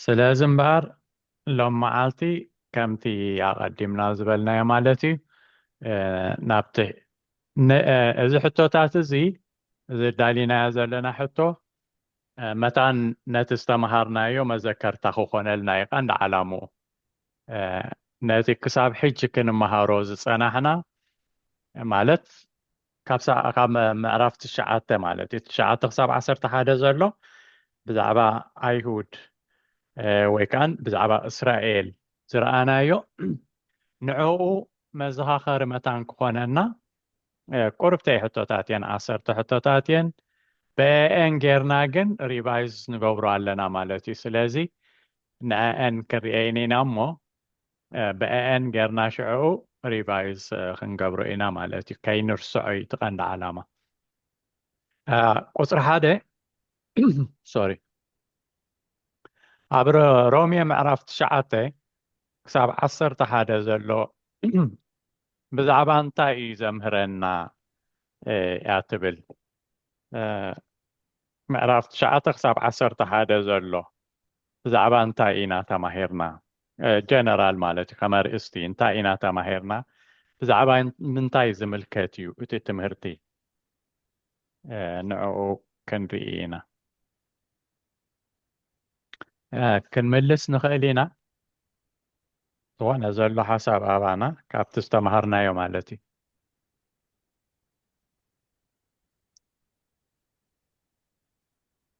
ስለዚ እምበኣር ሎም መዓልቲ ከምቲ ኣቐዲምና ዝበልናዮ ማለት እዩ ናብቲ እዚ ሕቶታት እዚ እዚ ኣዳሊናዮ ዘለና ሕቶ መታን ነቲ ዝተምሃርናዮ መዘከርታ ክኾነልና እዩ ቀንዲ ዓላምኡ ነቲ ክሳብ ሕጂ ክንመሃሮ ዝጸናሕና ማለት ካብ ምዕራፍ ትሽዓተ ማለት እዩ ትሽዓተ ክሳብ ዓሰርተ ሓደ ዘሎ ብዛዕባ ኣይሁድ ወይ ከዓ ብዛዕባ እስራኤል ዝረኣናዮ ንዕኡ መዘኻኸሪ መታን ክኾነና ቁርብተይ ሕቶታት እየን ዓሰርተ ሕቶታት እየን በኤን ጌርና ግን ሪቫይዝ ንገብሮ ኣለና ማለት እዩ ስለዚ ንዕአን ክንርኤን ኢና እሞ በኤኤን ገርና ሽዕኡ ሪቫይዝ ክንገብሮ ኢና ማለት እዩ ከይንርሰዖ እዩ እቲ ቀንዲ ዓላማ ቁፅሪ ሓደ ሶሪ ኣብ ሮሜ ምዕራፍ ትሽዓተ ክሳብ ዓሰርተ ሓደ ዘሎ ብዛዕባ እንታይ እዩ ዘምህረና እያ ትብል ምዕራፍ ትሽዓተ ክሳብ ዓሰርተ ሓደ ዘሎ ብዛዕባ እንታይ ኢና ተማሂርና? ጀነራል ማለት እዩ ከም ኣርእስቲ እንታይ ኢና ተማሂርና? ብዛዕባ ምንታይ ዝምልከት እዩ እቲ ትምህርቲ? ንዕኡ ክንርኢ ኢና። ክንምልስ ንኽእል ኢና ዝኾነ ዘሎ ሓሳብ ኣባና ካብቲ ዝተምሃርናዮ ማለት እዩ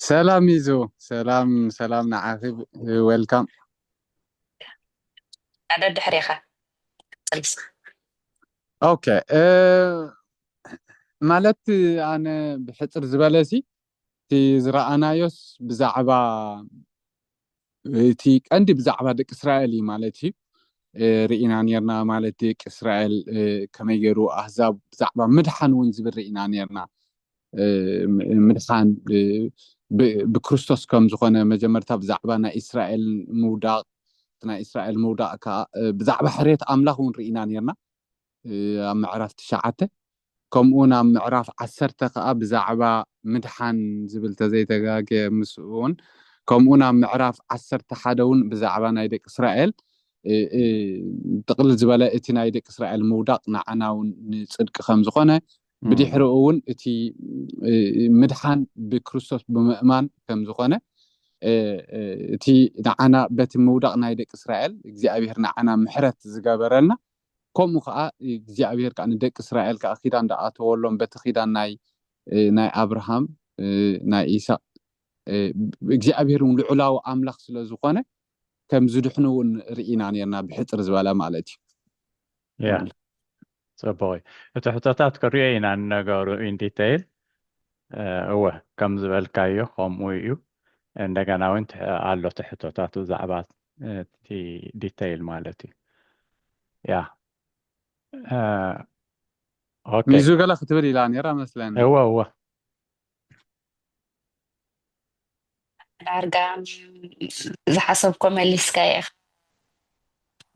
ሰላም ሚዙ ሰላም ሰላም ንዓኺ ዌልካም። ሓደ ድሕሬኻ ቀጽል። ኦኬ ማለት ኣነ ብሕጽር ዝበለሲ እቲ ዝረኣናዮስ ብዛዕባ እቲ ቀንዲ ብዛዕባ ደቂ እስራኤል እዩ ማለት እዩ ርኢና ነርና ማለት ደቂ እስራኤል ከመይ ገይሩ ኣህዛብ ብዛዕባ ምድሓን እውን ዝብል ርኢና ነርና ምድሓን ብክርስቶስ ከም ዝኾነ መጀመርታ ብዛዕባ ናይ እስራኤል ምውዳቅ ናይ እስራኤል ምውዳቅ ከዓ ብዛዕባ ሕርየት ኣምላኽ እውን ርኢና ነርና ኣብ ምዕራፍ ትሽዓተ ከምኡውን ኣብ ምዕራፍ ዓሰርተ ከኣ ብዛዕባ ምድሓን ዝብል ተዘይተጋግየ ምስኡውን ከምኡውን ኣብ ምዕራፍ ዓሰርተ ሓደ እውን ብዛዕባ ናይ ደቂ እስራኤል ጥቕልል ዝበለ እቲ ናይ ደቂ እስራኤል ምውዳቕ ንዓና እውን ንፅድቂ ከም ዝኾነ ብድሕሪኡ እውን እቲ ምድሓን ብክርስቶስ ብምእማን ከም ዝኾነ እቲ ንዓና በቲ ምውዳቕ ናይ ደቂ እስራኤል እግዚኣብሄር ንዓና ምሕረት ዝገበረልና ከምኡ ከኣ እግዚኣብሄር ከኣ ንደቂ እስራኤል ከኣ ኪዳን ደኣተወሎም በቲ ኪዳን ናይ ናይ ኣብርሃም ናይ ኢሳቅ እግዚኣብሄር ውን ልዑላዊ ኣምላኽ ስለ ዝኾነ ከም ዝድሕኑ ውን ርኢና ኔርና ብሕጽር ዝበለ ማለት እዩ። ያ ጽቡቅ እዩ እቲ ሕቶታት ክሪኦ ኢና ንነገሩ ኢን ዲተይል እወ ከም ዝበልካዮ ከምኡ እዩ እንደገና ውን ኣሎ እቲ ሕቶታት ብዛዕባ እቲ ዲተይል ማለት እዩ ያ ሚዙ ገለ ክትብል ኢላ ነራ መስለኒ እወ እወ ዳርጋ ዝሓሰብኮ መሊስካ ኢኻ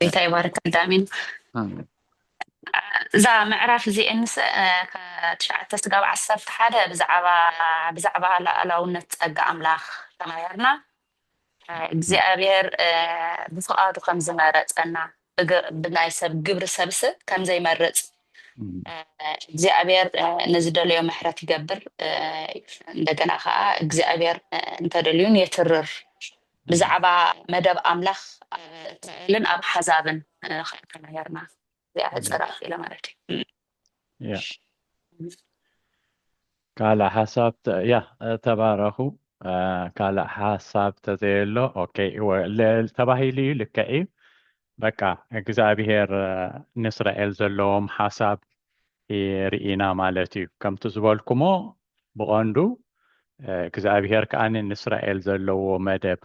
ቤታ ይባርክ ኣዳሚን እዛ ምዕራፍ እዚኤንስ ትሽዓተ ስጋብ ዓሰርተ ሓደ ብዛዕባ ብዛዕባ ላኣላውነት ጸጋ ኣምላኽ ተማሂርና እግዚኣብሔር ብፍቓዱ ከም ዝመረጸና ብናይ ሰብ ግብሪ ሰብስ ከም ዘይመርጽ እግዚኣብሔር ንዝደለዮ ምሕረት ይገብር እንደገና ከዓ እግዚኣብሔር እንተደልዩን የትርር ብዛዕባ መደብ ኣምላኽ ኣብ እስራኤልን ኣብ ሓዛብን ከይተማሄርና እዚኣ ሕፅር ኣቢለ ማለት እዩ ያ ካልእ ሓሳብ ተ- ያ ተባረኹ አ፣ ካልእ ሓሳብ ተዘየሎ ኦኬ እወ፣ ለ- ተባሂሉ እዩ ልክዕ እዩ በቃ እግዚኣብሄር አ፣ ንእስራኤል ዘለዎም ሓሳብ ርኢና ማለት እዩ ከምቲ ዝበልኩሞ ብቐንዱ አ፣ እግዚኣብሄር ከኣ ንእስራኤል ዘለዎ መደብ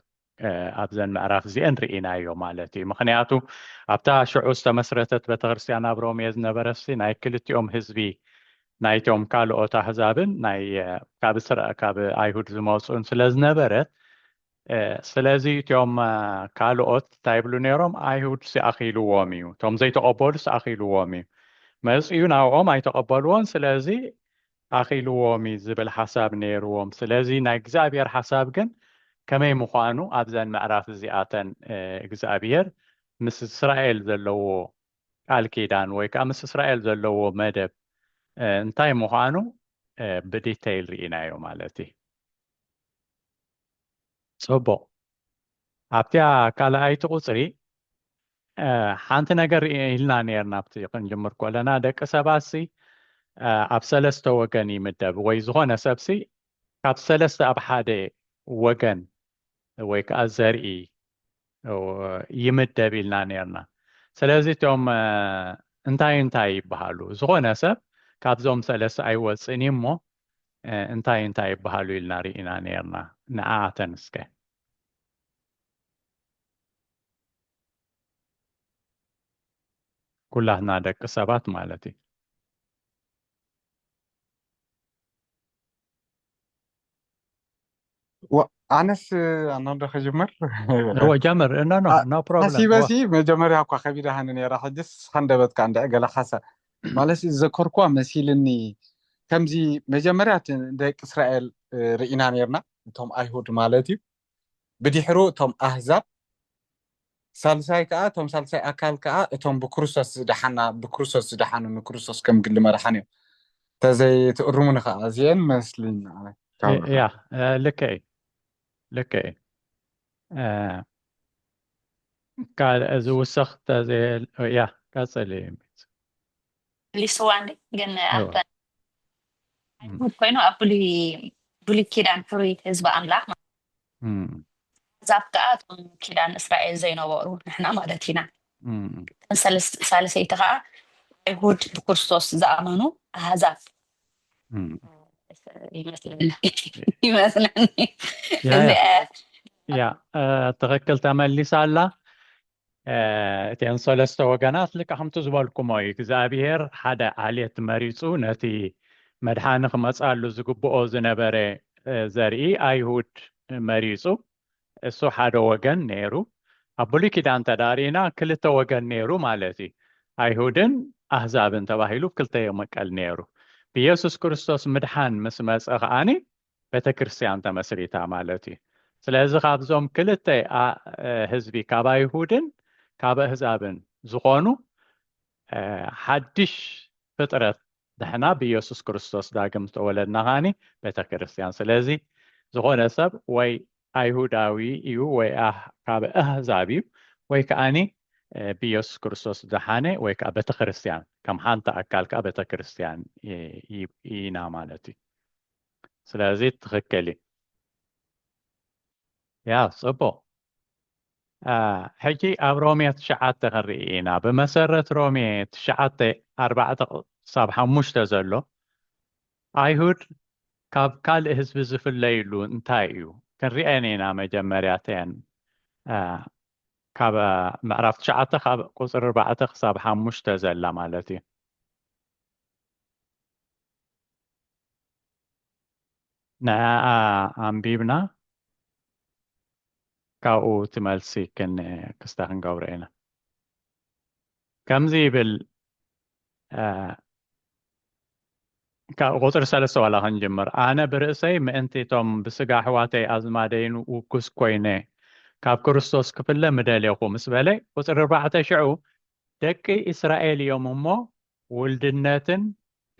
ኣብዘን ምዕራፍ እዚኤን ርኢናዮ ማለት እዩ ምክንያቱ ኣብታ ሽዑ ዝተመስረተት ቤተክርስትያን ኣብ ሮሜ ዝነበረሲ ናይ ክልቲኦም ህዝቢ ናይቶም ካልኦት ኣህዛብን ናይ ካብ እስራኤል ካብ ኣይሁድ ዝመፁን ስለ ዝነበረት ስለዚ እትኦም ካልኦት እንታይ ይብሉ ነይሮም ኣይሁድ ሲኣኺልዎም እዩ እቶም ዘይተቐበሉ ሲኣኺልዎም እዩ መፅኡ ናብኦም ኣይተቐበልዎን ስለዚ ኣኺልዎም እዩ ዝብል ሓሳብ ነይርዎም። ስለዚ ናይ እግዚኣብሔር ሓሳብ ግን ከመይ ምዃኑ ኣብዘን ምዕራፍ እዚኣተን እግዚኣብሔር ምስ እስራኤል ዘለዎ ቃል ኪዳን ወይ ከዓ ምስ እስራኤል ዘለዎ መደብ እንታይ ምዃኑ ብዲተይል ርኢናዮ ማለት እዩ። ጽቡቕ ኣብቲያ ካልኣይቲ ቁጽሪ ሓንቲ ነገር ኢልና ነርና ኣብቲ ክንጅምር ኮለና ደቂ ሰባሲ ኣብ ሰለስተ ወገን ይምደብ ወይ ዝኾነ ሰብሲ ካብ ሰለስተ ኣብ ሓደ ወገን ወይ ከዓ ዘርኢ ይምደብ ኢልና ነርና ስለዚ እቶም እንታይ እንታይ ይበሃሉ ዝኾነ ሰብ ካብዞም ሰለስተ ኣይወፅን እሞ እንታይ እንታይ ይበሃሉ ኢልና ርኢና ነርና ንኣኣተን እስከ ኩላትና ደቂ ሰባት ማለት እዩ ኣነስ ኣናዶ ክጅምር እወ ጀምር ኖ ኖ ኖ ፕሮብለም ሓሲበሲ መጀመርያ እኳ ከቢዳሃኒ ነራ ሕጅስ ሃንደበት ከዓ እንድዐ ገለ ካሳ ማለት ዘከርኩዋ መሲልኒ ከምዚ መጀመርያ ደቂ እስራኤል ርኢና ነርና እቶም ኣይሁድ ማለት እዩ ብዲሕሩ እቶም ኣህዛብ ሳልሳይ ከዓ እቶም ሳልሳይ ኣካል ከዓ እቶም ብክርስቶስ ዝደሓና ብክርስቶስ ዝደሓኑ ንክርስቶስ ከም ግሊ መራሓን እዮም ተዘይትእርሙኒ ከዓ እዚአን መስሊን ያ ልክ እዩ ልክ እዩ ዝውሰኽ ያ ቀፅል እዩ መሊስዋ እንዴ ግን ኣይዋ ኣብተን እም፣ ኣይሁድ ኮይኑ ኣብ ብሉይ ብሉይ ኪዳን ሕሩይ ህዝቢ ኣምላኽ ማለት እም፣ ኣሕዛብ ከኣ እቶም ኪዳን እስራኤል ዘይነበሩ ንሕና ማለት ኢና እም፣ እተን ሰለስ- ሳልሰይቲ ከኣ ኣይሁድ ብክርስቶስ ዝኣመኑ ኣሕዛብ እም። ይመስለኒ ይመስለኒ ያ እዚ ያ ያ እ፣ ትኽክል ተመሊሳ ኣላ እቲኤን ሰለስተ ወገናት ልክዕ ከምቲ ዝበልኩሞ እዩ እግዚኣብሄር ሓደ ዓሌት መሪፁ ነቲ መድሓኒ ክመፃሉ ዝግብኦ ዝነበረ ዘርኢ ኣይሁድ መሪፁ እሱ ሓደ ወገን ነይሩ ኣብ ብሉይ ኪዳን ተዳሪና ክልተ ወገን ነይሩ ማለት እዩ ኣይሁድን ኣህዛብን ተባሂሉ ክልተ የመቀል ነይሩ ብየሱስ ክርስቶስ ምድሓን ምስ መፀ ከዓኒ ቤተክርስትያን ተመስሪታ ማለት እዩ ስለዚ ካብዞም ክልተ ህዝቢ ካብ ኣይሁድን ካብ ኣህዛብን ዝኾኑ ሓድሽ ፍጥረት ንሕና ብኢየሱስ ክርስቶስ ዳግም ዝተወለድና ኻኒ ቤተክርስትያን ስለዚ ዝኾነ ሰብ ወይ ኣይሁዳዊ እዩ ወይ ካብ ኣህዛብ እዩ ወይ ከዓኒ ብኢየሱስ ክርስቶስ ዝደሓነ ወይ ከዓ ቤተክርስትያን ከም ሓንቲ ኣካል ከዓ ቤተክርስትያን ኢና ማለት እዩ ስለዚ ትኽክል እዩ ያ ፅቡቅ ሕጂ ኣብ ሮሜ ትሽዓተ ክንርኢ ኢና ብመሰረት ሮሜ ትሽዓተ ኣርባዕተ ክሳብ ሓሙሽተ ዘሎ ኣይሁድ ካብ ካልእ ህዝቢ ዝፍለይሉ እንታይ እዩ ክንርአን ኢና መጀመርያተን ካብ ምዕራፍ ትሽዓተ ካብ ቁፅሪ ኣርባዕተ ክሳብ ሓሙሽተ ዘላ ማለት እዩ ንዕኣ ኣንቢብና ካብኡ እቲ መልሲ ክስተ ክንገብሮ ኢና። ከምዚ ይብል ካብ ቁፅሪ ሰለስተ ዋላ ክንጅምር ኣነ ብርእሰይ ምእንቲ እቶም ብስጋ ኣሕዋተይ ኣዝማደይን ውጉስ ኮይነ ካብ ክርስቶስ ክፍለ ምደሌኹ ምስ በለ ቁፅሪ ኣርባዕተ ሽዑ ደቂ እስራኤል እዮም እሞ ውልድነትን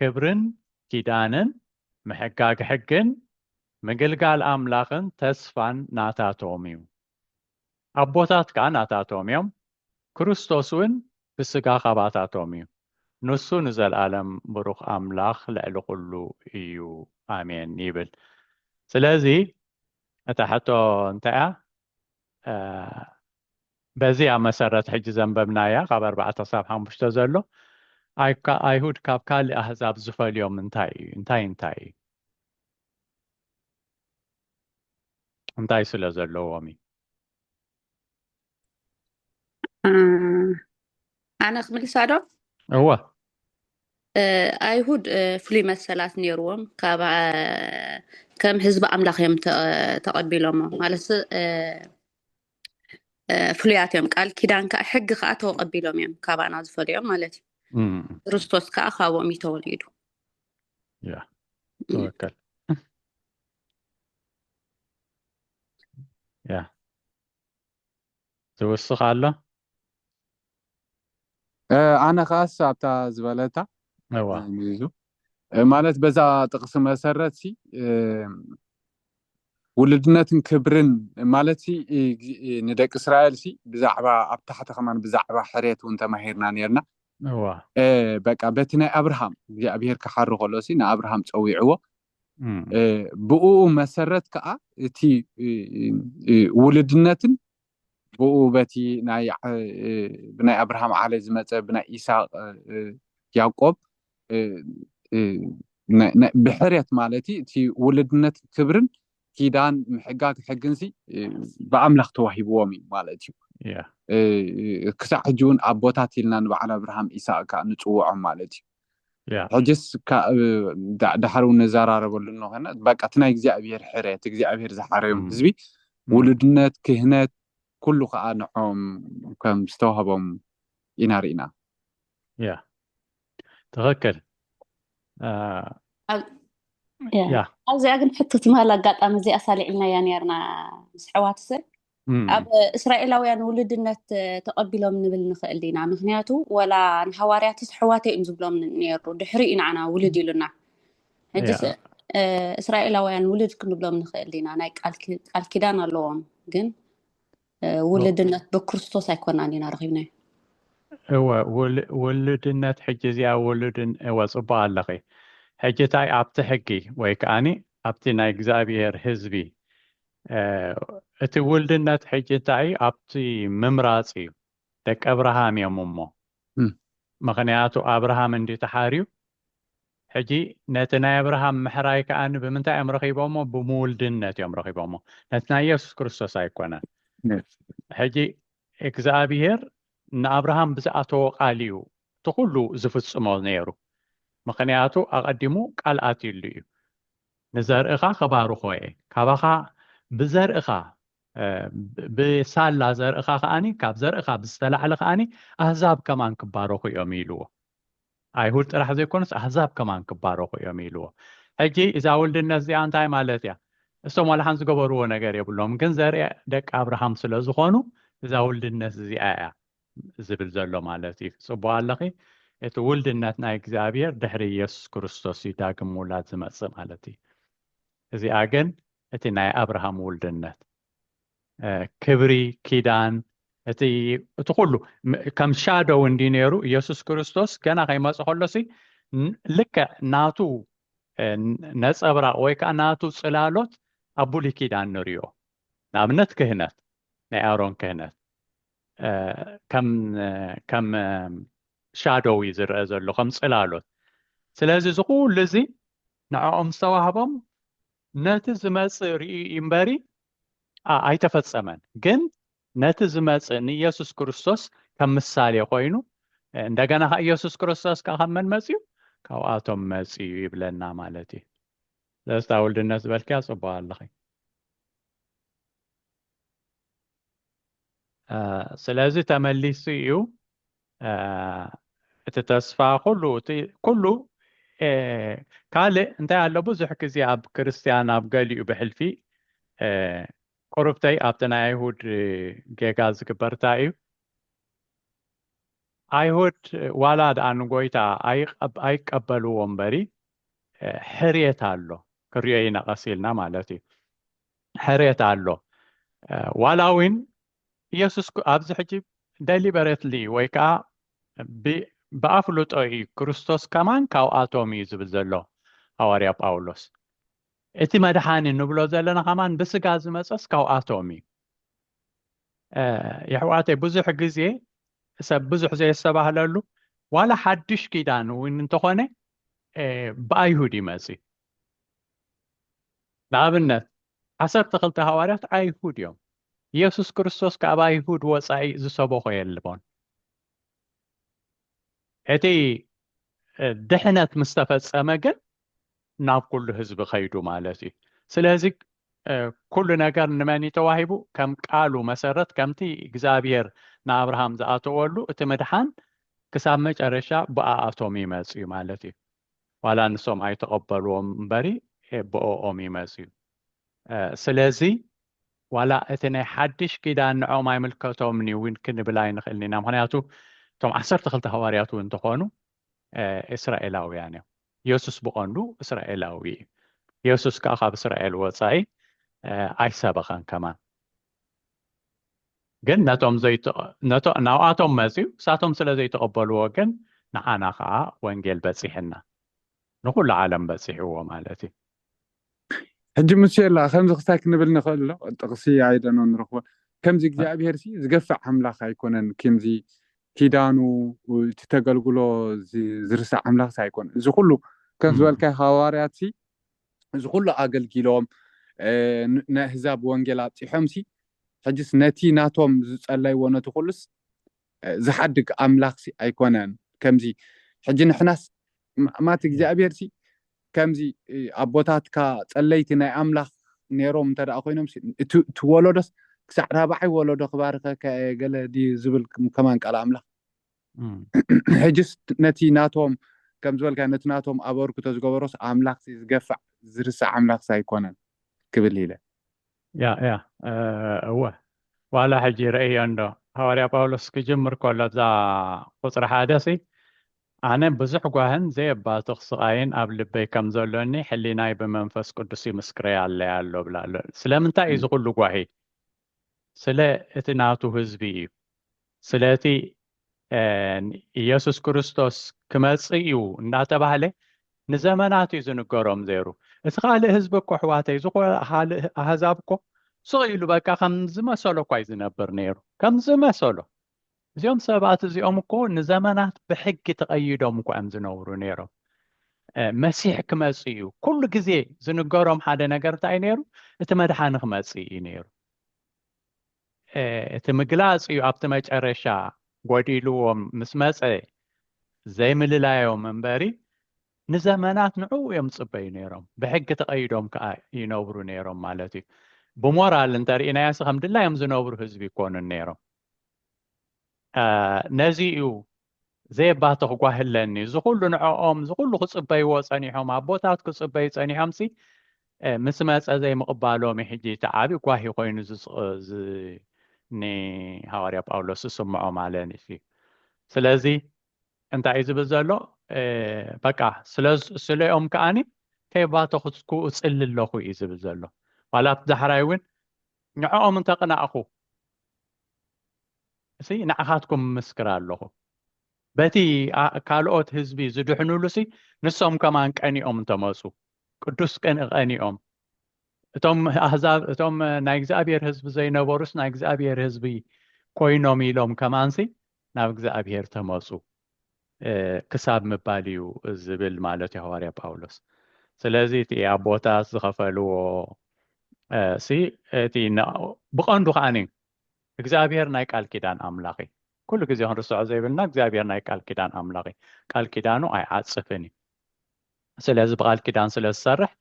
ክብርን ኪዳንን ምሕጋግ ሕግን ምግልጋል ኣምላኽን ተስፋን ናታቶም እዩ። ኣቦታት ከኣ ናታቶም እዮም፣ ክርስቶስ እውን ብስጋ ካባታቶም እዩ። ንሱ ንዘልኣለም ብሩኽ ኣምላኽ ልዕሊ ኩሉ እዩ ኣሜን ይብል። ስለዚ እታ ሕቶ እንታይ እያ? በዚ ኣብ መሰረት ሕጂ ዘንበብናያ ካብ ኣርባዕተ ክሳብ ሓሙሽተ ዘሎ ኣይሁድ ካብ ካልእ ኣህዛብ ዝፈልዮም እንታይ እዩ እንታይ እንታይ እዩ እንታይ ስለ ዘለዎም እዩ ኣነ ክምልሳ ዶ እወ ኣይሁድ ፍሉይ መሰላት ነይርዎም ካብ ከም ህዝቢ ኣምላኽ እዮም ተቐቢሎሞ ማለት ፍሉያት እዮም ቃል ኪዳን ከዓ ሕጊ ከዓ ተቐቢሎም እዮም ካባና ዝፈልዮም ማለት እዩ ክርስቶስ ከዓ ካብኦም እዩ ተወሊዱ ተወከል ያ ዝውስኽ ኣሎ? ኣነ ከኣስ ኣብታ ዝበለታ ሚዙ ማለት በዛ ጥቕሲ መሰረት ሲ ውልድነትን ክብርን ማለት ሲ ንደቂ እስራኤል ሲ ብዛዕባ ኣብ ታሕቲ ከማን ብዛዕባ ሕሬት እውን ተማሂርና ነርና በቃ በቲ ናይ ኣብርሃም እግዚኣብሄር ክሓር ከሎ ሲ ንኣብርሃም ፀዊዕዎ ብኡኡ መሰረት ከኣ እቲ ውልድነትን ብኡ በቲ ናይ ብናይ ኣብርሃም ዓለ ዝመጸ ብናይ ኢሳቅ ያቆብ ብሕርየት ማለት እቲ ውልድነት ክብርን ኪዳን ምሕጋግ ሕግንሲ ብኣምላኽ ተዋሂብዎም እዩ ማለት እዩ ክሳዕ ሕጂ እውን ኣቦታት ኢልና ንበዓል ኣብርሃም ኢሳቅ ከዓ ንፅውዖም ማለት እዩ ያ ሕጅስ ካ ዳሓር ውን ንዛራረበሉ እንኾነ በቃ እቲ ናይ እግዚኣብሄር ሕረ እቲ እግዚኣብሄር ዝሓረዮም እም፣ ህዝቢ እም፣ ውሉድነት ክህነት ኩሉ ከኣ ንዖም ከም ዝተዋህቦም ኢና ርኢና። ያ ትኽክል ያ ኣብ ያ ኣብዚኣ ግን ሕቶ ትማል ኣጋጣሚ እዚኣስ ኣልዒልናያ ኔርና ምስ ኣሕዋትሰ ኣብ እስራኤላውያን ውሉድነት ተቐቢሎም ንብል ንኽእል ኢና ምክንያቱ ወላ ንሃዋርያት ኣሕዋተ እዮም ዝብሎም ነይሩ ድሕሪ እዩ ንዓና ውሉድ ኢሉና ሕጂ እስራኤላውያን ውሉድ ክንብሎም ንኽእል ኢና ናይ ቃል ኪዳን ኣለዎም ግን ውሉድነት ብክርስቶስ ኣይኮናን ኢና ረኪብናዮ እወ ውሉድነት ሕጂ እዚኣ ውሉድ እወ ፅቡቅ ኣለኺ ሕጂ እንታይ ኣብቲ ሕጊ ወይ ከዓኒ ኣብቲ ናይ እግዚኣብሄር ህዝቢ እቲ ውልድነት ሕጂ እንታይ እዩ ኣብቲ ምምራጽ እዩ ደቂ ኣብርሃም እዮም እሞ ምክንያቱ ኣብርሃም እንዲ ተሓርዩ ሕጂ ነቲ ናይ ኣብርሃም ምሕራይ ከዓ ብምንታይ እዮም ረኪቦሞ ብምውልድነት እዮም ረኪቦሞ ነቲ ናይ የሱስ ክርስቶስ ኣይኮነን ሕጂ እግዚኣብሄር ንኣብርሃም ብዝኣተዎ ቃል እዩ እቲ ኩሉ ዝፍጽሞ ነይሩ ምክንያቱ ኣቐዲሙ ቃል ኣትዩሉ እዩ ንዘርእኻ ኸባርኾ እየ፣ ካባኻ ብዘርእኻ፣ ብሳላ ዘርእኻ ኸኣ፣ ካብ ዘርእኻ ብዝተላዕለ ኸኣ ኣህዛብ ከማን ክባረኹ እዮም ኢልዎ። ኣይሁድ ጥራሕ ዘይኮኑስ ኣህዛብ ከማን ክባረኹ እዮም ኢልዎ። ሕጂ እዛ ውልድነት እዚኣ እንታይ ማለት እያ? እሶም ዋላ ሓንቲ ዝገበርዎ ነገር የብሎም፣ ግን ዘርኢ ደቂ ኣብርሃም ስለ ዝኾኑ እዛ ውልድነት እዚኣ እያ ዝብል ዘሎ ማለት እዩ ጽቡቅ ኣለኺ እቲ ውልድነት ናይ እግዚኣብሔር ድሕሪ ኢየሱስ ክርስቶስ እዩ ዳግም ምውላድ ዝመጽእ ማለት እዩ እዚኣ ግን እቲ ናይ ኣብርሃም ውልድነት ክብሪ ኪዳን እቲ እቲ ኩሉ ከም ሻደው እንዲ ነይሩ ኢየሱስ ክርስቶስ ገና ከይመፅ ከሎሲ ልክዕ ናቱ ነፀብራቅ ወይ ከዓ ናቱ ፅላሎት ኣብ ብሉይ ኪዳን ንሪኦ ንኣብነት ክህነት ናይ ኣሮን ክህነት ከም ሻዶው እዩ ዝረአ ዘሎ ከም ፅላሎት ስለዚ እዚ ኩሉ እዚ ንዕኦም ዝተዋህቦም ነቲ ዝመፅእ ርእዩ እምበሪ ኣይተፈፀመን ግን ነቲ ዝመፅእ ንኢየሱስ ክርስቶስ ከም ምሳሌ ኮይኑ እንደገና ከ ኢየሱስ ክርስቶስ ከዓ ካብ መን መፅዩ ካብኣቶም መፅዩ ይብለና ማለት እዩ ስለስታ ውልድነት ዝበልክያ ፅቡቅ ኣለኺ ስለዚ ተመሊሱ እዩ እቲ ተስፋ ኩሉ እቲ ኩሉ ካልእ እንታይ ኣሎ ብዙሕ ግዜ ኣብ ክርስትያን ኣብ ገሊኡ ብሕልፊ ቁርብተይ ኣብቲ ናይ ኣይሁድ ጌጋ ዝግበር እንታይ እዩ ኣይሁድ ዋላ ድኣ ንጎይታ ኣይቀበልዎ እምበሪ ሕርየት ኣሎ ክሪኦ ይነቐስ ኢልና ማለት እዩ ሕርየት ኣሎ ዋላ እውን ኢየሱስ ኣብዚ ሕጂ ደሊበረትሊ ወይ ከዓ ብኣፍልጦ እዩ ክርስቶስ ከማን ካብኣቶም እዩ ዝብል ዘሎ ሃዋርያ ጳውሎስ እቲ መድሓኒ ንብሎ ዘለና ከማን ብስጋ ዝመፀስ ካብኣቶም እዩ የሕዋተይ ብዙሕ ግዜ ሰብ ብዙሕ ዘየስተባህለሉ ዋላ ሓድሽ ኪዳን እውን እንተኾነ ብኣይሁድ ይመፅ ንኣብነት፣ ዓሰርተ ክልተ ሃዋርያት ኣይሁድ እዮም። ኢየሱስ ክርስቶስ ካብ ኣይሁድ ወፃኢ ዝሰበኾ የልቦን። እቲ ድሕነት ምስ ተፈጸመ ግን ናብ ኩሉ ህዝቢ ከይዱ ማለት እዩ ስለዚ ኩሉ ነገር ንመን እዩ ተዋሂቡ ከም ቃሉ መሰረት ከምቲ እግዚኣብሔር ንኣብርሃም ዝኣተወሉ እቲ ምድሓን ክሳብ መጨረሻ ብኣኣቶም ይመፅ እዩ ማለት እዩ ዋላ ንሶም ኣይተቐበልዎም እምበሪ ብኦኦም እዩ መጽዩ። ስለዚ ዋላ እቲ ናይ ሓድሽ ኪዳን ንዕኦም ኣይምልከቶምን እዩ እውን ክንብል ኣይንኽእልን ኢና፣ ምኽንያቱ እቶም ዓሰርተ ክልተ ሃዋርያት እውን እንተኾኑ እስራኤላውያን እዮም። የሱስ ብቐንዱ እስራኤላዊ እዩ። የሱስ ከኣ ካብ እስራኤል ወጻኢ ኣይሰበኸን ከማን። ግን ነቶም ዘይተቀ ናብኣቶም መጽዩ ንሳቶም ስለ ዘይተቀበልዎ ግን ንዓና ከኣ ወንጌል በጺሕና ንኩሉ ዓለም በጺሕዎ ማለት እዩ። ሕጂ ሙሴላ ከምዚ ክሳይ ክንብል ንክእል ዶ ጥቅሲ ኣይ ዶኖ ንረክቦ ከምዚ እግዚኣብሄር ሲ ዝገፍዕ ኣምላክ ኣይኮነን ኪምዚ ኪዳኑ እቲ ተገልግሎ ዝርሳዕ ኣምላክ ሲ ኣይኮነን እዚ ኩሉ ከም ዝበልካዮ ሃዋርያት ሲ እዚ ኩሉ ኣገልጊሎም ንኣህዛብ ወንጌል ኣብጺሖምሲ ሕጅስ ነቲ ናቶም ዝጸለይዎ ነቲ ኩሉስ ዝሓድግ ኣምላኽሲ ኣይኮነን ከምዚ ሕጂ ንሕናስ ማት እግዚኣብሔርሲ ከምዚ ኣቦታትካ ጸለይቲ ናይ ኣምላኽ ነይሮም እንተ ኮይኖም እቲ ወለዶስ ክሳዕ ራብዓይ ወለዶ ክባርከካ እየ ገለ ድዩ ዝብል ከማን ቃል ኣምላኽ ሕጅስ ነቲ ናቶም ከም ዝበልካዮ ነቲ ናቶም ኣበርክቶ ዝገበሮስ ኣምላኽሲ ዝገፍዕ ዝርሳዕ ኣምላኽሲ ኣይኮነን ክብል ኢለ። ያእ ያእ እወ ዋላ ሕጂ ረእዮ እንዶ ሃዋርያ ጳውሎስ ክጅምር ከሎ ኣብዛ ቁጽሪ ሓደሲ ኣነ ብዙሕ ጓህን ዘየባትኽ ስቓይን ኣብ ልበይ ከም ዘሎኒ ሕሊናይ ብመንፈስ ቅዱስ ይምስክረያለይ ኣሎ ብላ ኣሎ። ስለምንታይ እዩ እዚ ኩሉ ጓሂ? ስለ እቲ ናቱ ህዝቢ እዩ። ስለ እቲ ኢየሱስ ክርስቶስ ክመጽእ እዩ እናተባህለ ንዘመናት እዩ ዝንገሮም ዘይሩ። እቲ ካልእ ህዝቢ እኮ ኣሕዋተይ፣ እዚ ካልእ ኣህዛብ እኮ ስቕ ኢሉ በቃ ከም ዝመሰሎ እኳ እዩ ዝነብር ነይሩ። ከም ዝመሰሎ እዚኦም ሰባት እዚኦም እኮ ንዘመናት ብሕጊ ተቐይዶም እኳ እዮም ዝነብሩ ነይሮም። መሲሕ ክመጽእ እዩ ኩሉ ግዜ ዝንገሮም ሓደ ነገር እንታይ እዩ ነይሩ? እቲ መድሓኒ ክመጽእ እዩ ነይሩ። እቲ ምግላጽ እዩ ኣብቲ መጨረሻ ጎዲልዎም ምስ መጸ ዘይምልላዮም እምበሪ ንዘመናት ንዕኡ እዮም ዝጽበዩ ነይሮም ብሕጊ ተቐይዶም ከዓ ይነብሩ ነይሮም ማለት እዩ ብሞራል እንተርእናዮስ ከም ድላዮም ዝነብሩ ህዝቢ ይኮኑን ነይሮም ነዚ እዩ ዘየባትኽ ጓህለኒ እዚ ኩሉ ንዕኦም እዚ ኩሉ ክፅበይዎ ፀኒሖም ኣቦታት ክፅበዩ ፀኒሖም ሲ ምስ መፀ ዘይምቕባሎም እዩ ሕጂ እቲ ዓብዪ ጓሂ ኮይኑ ንሃዋርያ ጳውሎስ ዝስምዖ ማለት እዩ ስለዚ እንታይ እዩ ዝብል ዘሎ በቃ ስለኦም ከዓኒ ከይባተኽኩ እፅሊ ኣለኹ እዩ ዝብል ዘሎ ዋላ ኣብቲ ዳሕራይ እውን ንዕኦም እንተ ቕናእኩ፣ ሲ ንዓኻትኩም እምስክር ኣሎኹ፣ በቲ ካልኦት ህዝቢ ዝድሕኑሉሲ፣ ንሶም ከማን ቀኒኦም እንተ መጹ፣ ቅዱስ ቅንኢ ቐኒኦም፣ እቶም ኣህዛብ፣ እቶም ናይ እግዚኣብሄር ህዝቢ ዘይነበሩስ ናይ እግዚኣብሄር ህዝቢ ኰይኖም ኢሎም ከማንሲ ናብ እግዚኣብሔር ተመፁ ክሳብ ምባል እዩ ዝብል ማለት እዩ ሃዋርያ ጳውሎስ ስለዚ እቲ ኣቦታት ዝኸፈልዎ ሲ እቲ ብቐንዱ ከዓ እዩ እግዚኣብሔር ናይ ቃል ኪዳን ኣምላኽ እዩ ኩሉ ግዜ ክንርስዖ ዘይብልና እግዚኣብሔር ናይ ቃል ኪዳን ኣምላኽ እዩ ቃል ኪዳኑ ኣይዓፅፍን እዩ ስለዚ ብቃል ኪዳን ስለ ዝሰርሕ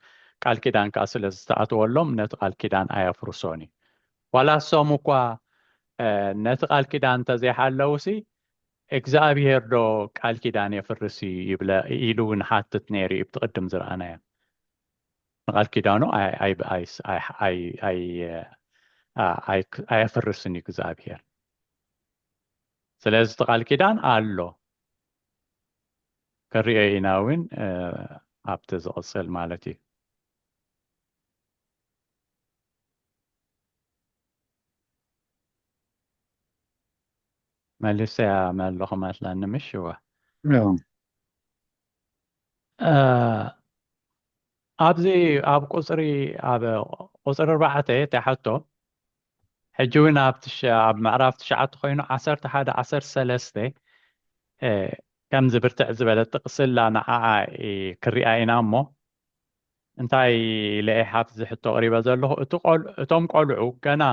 ቃል ኪዳን ከዓ ስለ ዝተኣተወሎም ነቲ ቃል ኪዳን ኣየፍርሶን እዩ ዋላ እሶም እኳ ነቲ ቃል ኪዳን እንተዘይሓለውሲ እግዚኣብሄር ዶ ቃል ኪዳን የፍርስ ይብለ ኢሉ እውን ሓትት ነይሩ እዩ ብትቅድም ዝረኣናዮ ንቃል ኪዳኑ ኣየፍርስን እዩ እግዚኣብሄር ስለዚ እቲ ቃል ኪዳን ኣሎ ክንሪኦ ኢና እውን ኣብቲ ዝቕፅል ማለት እዩ። መልሰያ መለኹ መስለኒ ምሽወ ኣብዚ ኣብ ቁጽሪ ኣብ ቁጽሪ ኣርባዕተ እታ ሕቶ ሕጂ እውን ኣብ ኣብ ምዕራፍ ትሽዓተ ኮይኑ ዓሰርተ ሓደ ዓሰርተ ሰለስተ ከምዚ ብርትዕ ዝበለ ጥቕሲ ኣላ ንዓኣ ክሪኣ ኢና እሞ እንታይ ኢለ እየ ሓፍ ዝሕቶ ኣቕሪበ ዘለኹ እቲ እቶም ቆልዑ ገና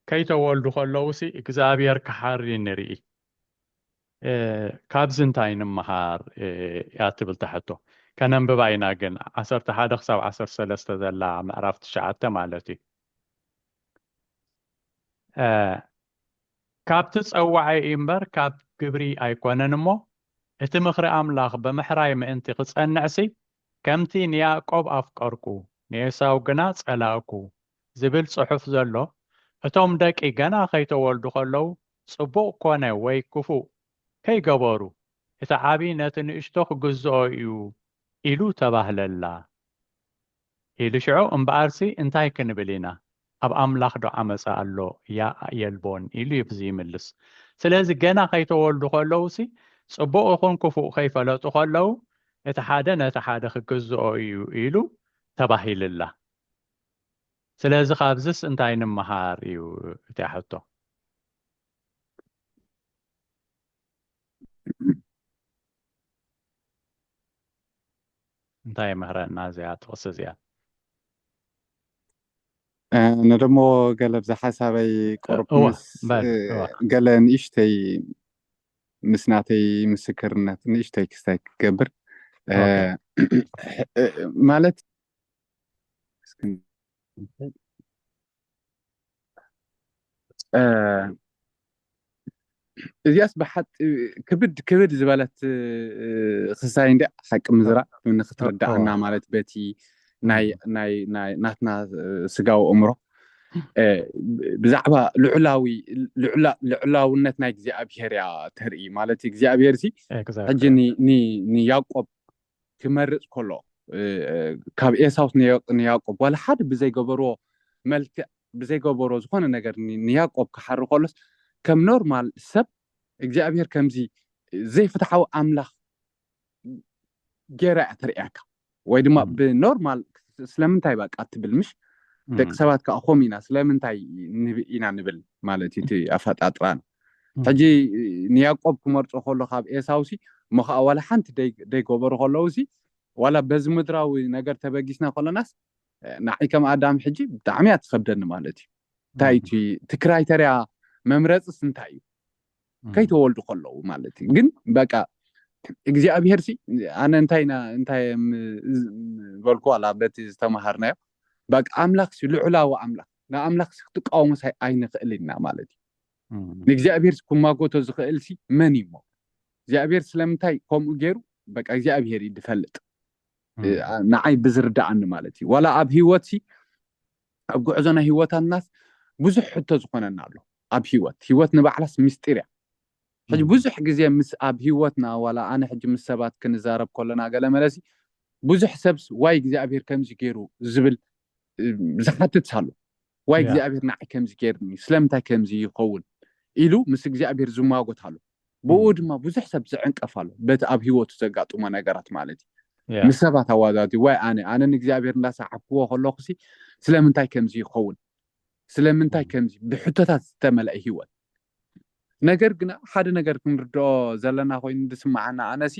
ከይተወልዱ ከለውሲ እግዚኣብሔር ክሓሪ ንርኢ ካብዚ እንታይ ንምሃር እያ ትብልታ ሕቶ ከነንብባ ኢና ግን ዓሰርተ ሓደ ክሳብ ዓሰርተ ሰለስተ ዘላ ምዕራፍ ትሽዓተ ማለት እዩ ካብቲ ጸዋዒ እዩ እምበር ካብ ግብሪ ኣይኮነን እሞ እቲ ምኽሪ ኣምላኽ ብምሕራይ ምእንቲ ክጸንዕሲ ከምቲ ንያዕቆብ ኣፍቀርኩ ንኤሳው ግና ጸላእኩ ዝብል ጽሑፍ ዘሎ እቶም ደቂ ገና ከይተወልዱ ከለዉ ጽቡቕ ኮነ ወይ ክፉእ ከይገበሩ፣ እቲ ዓብዪ ነቲ ንእሽቶ ክግዝኦ እዩ ኢሉ ተባህለላ። ኢሉ ሽዑ እምበኣርሲ እንታይ ክንብል ኢና? ኣብ ኣምላኽዶ ዓመጻ ኣሎ? ያእ የልቦን ኢሉ እዩ ዚምልስ። ስለዚ ገና ኸይተወልዱ ኸለዉሲ፣ ጽቡቕ ይኹን ክፉእ ከይፈለጡ ኸለዉ፣ እቲ ሓደ ነቲ ሓደ ክግዝኦ እዩ ኢሉ ተባሂልላ። ስለዚ ካብዝስ እንታይ ንምሃር እዩ እቲያ ሕቶ። እንታይ ይምህረና እዚኣ ጥቕሲ እዚኣ? ነደሞ ገለ ብዛ ሓሳበይ ቁሩብ ምስ ገለ ንእሽተይ ምስ ናተይ ምስክርነት ንእሽተይ ክስታይ ክገብር ማለት እዚኣስ ብሓቂ ክብድ ክብድ ዝበለት ክሳይ እንዲ ሓቂ ምዝራእ ንክትርዳእና ማለት በቲ ናትና ስጋዊ እምሮ ብዛዕባ ልዑላውነት ናይ እግዚኣብሄር እያ ተርኢ ማለት እግዚኣብሄር ሲ ሕጂ ንያቆብ ክመርጽ ከሎ ካብ ኤሳው ንያቆብ ዋላ ሓደ ብዘይ ገበሮ መልክዕ ብዘይ ገበሮ ዝኾነ ነገር ንያቆብ ክሓሪ ከሎስ ከም ኖርማል ሰብ እግዚኣብሔር ከምዚ ዘይፍትሓዊ ኣምላኽ ጌራ እያ ተርእያካ ወይ ድማ ብኖርማል ስለምንታይ በቃ ትብል ምሽ ደቂ ሰባት ከዓ ከምኡ ኢና ስለምንታይ ኢና ንብል ማለት እቲ ኣፈጣጥራና ሕጂ ንያእቆብ ክመርጾ ከሎ ካብ ኤሳውሲ እሞ ኸኣ ዋላ ሓንቲ ደይገበሩ ከለውሲ ዋላ በዚ ምድራዊ ነገር ተበጊስና ከሎናስ ንዓይ ከም ኣዳም ሕጂ ብጣዕሚ እያ ትኸብደኒ ማለት እዩ እንታይ እቲ እቲ ክራይተርያ መምረፅስ እንታይ እዩ ከይተወልዱ ከለዉ ማለት እዩ ግን በቃ እግዚኣብሄር ሲ ኣነ እንታይ ኢና እንታይ በልኩ ኣላ በቲ ዝተምሃርናዮ በቃ ኣምላኽ ሲ ልዑላዊ ኣምላኽ ንኣምላኽ ሲ ክትቃወሙስ ኣይንኽእል ኢና ማለት እዩ ንእግዚኣብሔር ክማጎቶ ዝኽእልሲ መን እዩ እሞ እግዚኣብሔር ስለምንታይ ከምኡ ገይሩ በቃ እግዚኣብሔር እዩ ዝፈልጥ ንዓይ ብዝርዳኣኒ ማለት እዩ ዋላ ኣብ ሂወትሲ ኣብ ጉዕዞ ናይ ሂወታትናስ ብዙሕ ሕቶ ዝኾነና ኣሎ ኣብ ሂወት ሂወት ንባዕላስ ምስጢር እያ ሕጂ ብዙሕ ግዜ ምስ ኣብ ሂወትና ዋላ ኣነ ሕጂ ምስ ሰባት ክንዛረብ ከሎና ገለ መለሲ ብዙሕ ሰብስ ዋይ እግዚኣብሄር ከምዚ ገይሩ ዝብል ዝሓትት ኣሎ ዋይ እግዚኣብሔር ንዓይ ከምዚ ገይርኒ ስለምንታይ ከምዚ ይኸውን ኢሉ ምስ እግዚኣብሔር ዝሟጎት ኣሎ ብኡ ድማ ብዙሕ ሰብ ዝዕንቀፍ ኣሎ በቲ ኣብ ህይወቱ ዘጋጥሞ ነገራት ማለት እዩ ምስ ሰባት ኣዋዛዚ ዋይ ኣነ ኣነ ንእግዚኣብሔር እንዳሰዓብክዎ ከለኹ ሲ ስለምንታይ ከምዚ ይኸውን ስለምንታይ ከምዚ ብሕቶታት ዝተመልአ ህይወት ነገር ግና ሓደ ነገር ክንርድኦ ዘለና ኮይኑ ዝስምዓና ኣነሲ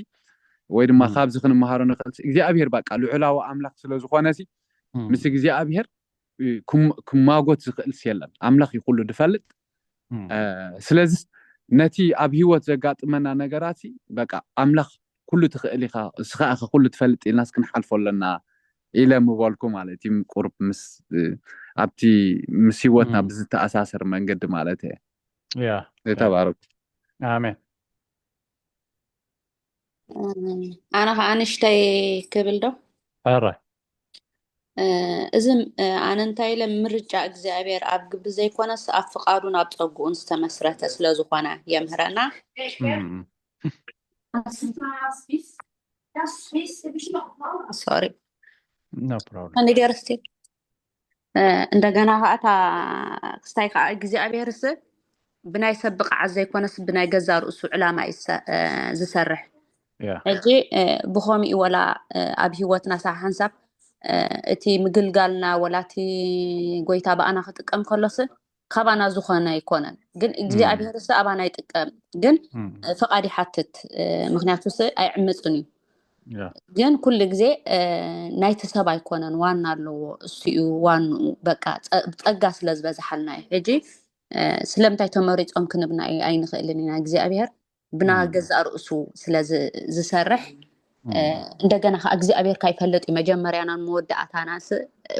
ወይ ድማ ካብዚ ክንመሃሮ ንኽእል እግዚኣብሔር በቃ ልዑላዊ ኣምላኽ ስለ ዝኾነ ሲ ምስ እግዚኣብሔር ክማጎት ዝኽእልስ የለን ኣምላኽ እዩ ኩሉ ድፈልጥ ስለዚ ነቲ ኣብ ሂወት ዘጋጥመና ነገራት በቃ ኣምላኽ ኩሉ ትኽእል ኢኻ እስኻ ኢኻ ኩሉ ትፈልጥ ኢልናስ ክንሓልፎ ኣለና ኢለ ምበልኩ ማለት እዩ ቁርብ ምስ ኣብቲ ምስ ሂወትና ብዝተኣሳሰር መንገዲ ማለት እየ ተባረኩ ኣሜን ኣነ ከዓ ንሽተይ ክብል ዶ እዚ ኣነ እንታይ ኢለ ምርጫ እግዚኣብሔር ኣብ ግብሪ ዘይኮነስ ኣብ ፍቃዱን ኣብ ፀጉኡን ዝተመስረተ ስለዝኾነ የምህረና ሶሪ ንገርስቲ እንደገና ከዓ እታ ክስታይ ከዓ እግዚኣብሔርስ ብናይ ሰብ ብቕዓት ዘይኮነስ ብናይ ገዛ ርእሱ ዕላማ እዩ ዝሰርሕ ሕጂ ብኸምኡ ወላ ኣብ ሂወትና ሳዕ ሓንሳብ እቲ ምግልጋልና ወላ እቲ ጎይታ ብኣና ክጥቀም ከሎስ ካባና ዝኾነ ኣይኮነን ግን እግዚኣብሄር ስ ኣባና ይጥቀም ግን ፈቃድ ይሓትት ምክንያቱ ስ ኣይዕምፅን እዩ ግን ኩሉ ግዜ ናይቲ ሰብ ኣይኮነን ዋና ኣለዎ እሱዩ ዋንኡ በቃ ፀጋ ስለዝበዝሓልና እዩ ሕጂ ስለምንታይ ተመሪፆም ክንብና ኣይንኽእልን ኢና እግዚኣብሄር ብና ገዛእ ርእሱ ስለዝሰርሕ እንደገና ከዓ እግዚኣብሔር ካ ይፈለጥ እዩ መጀመርያናን መወዳእታናን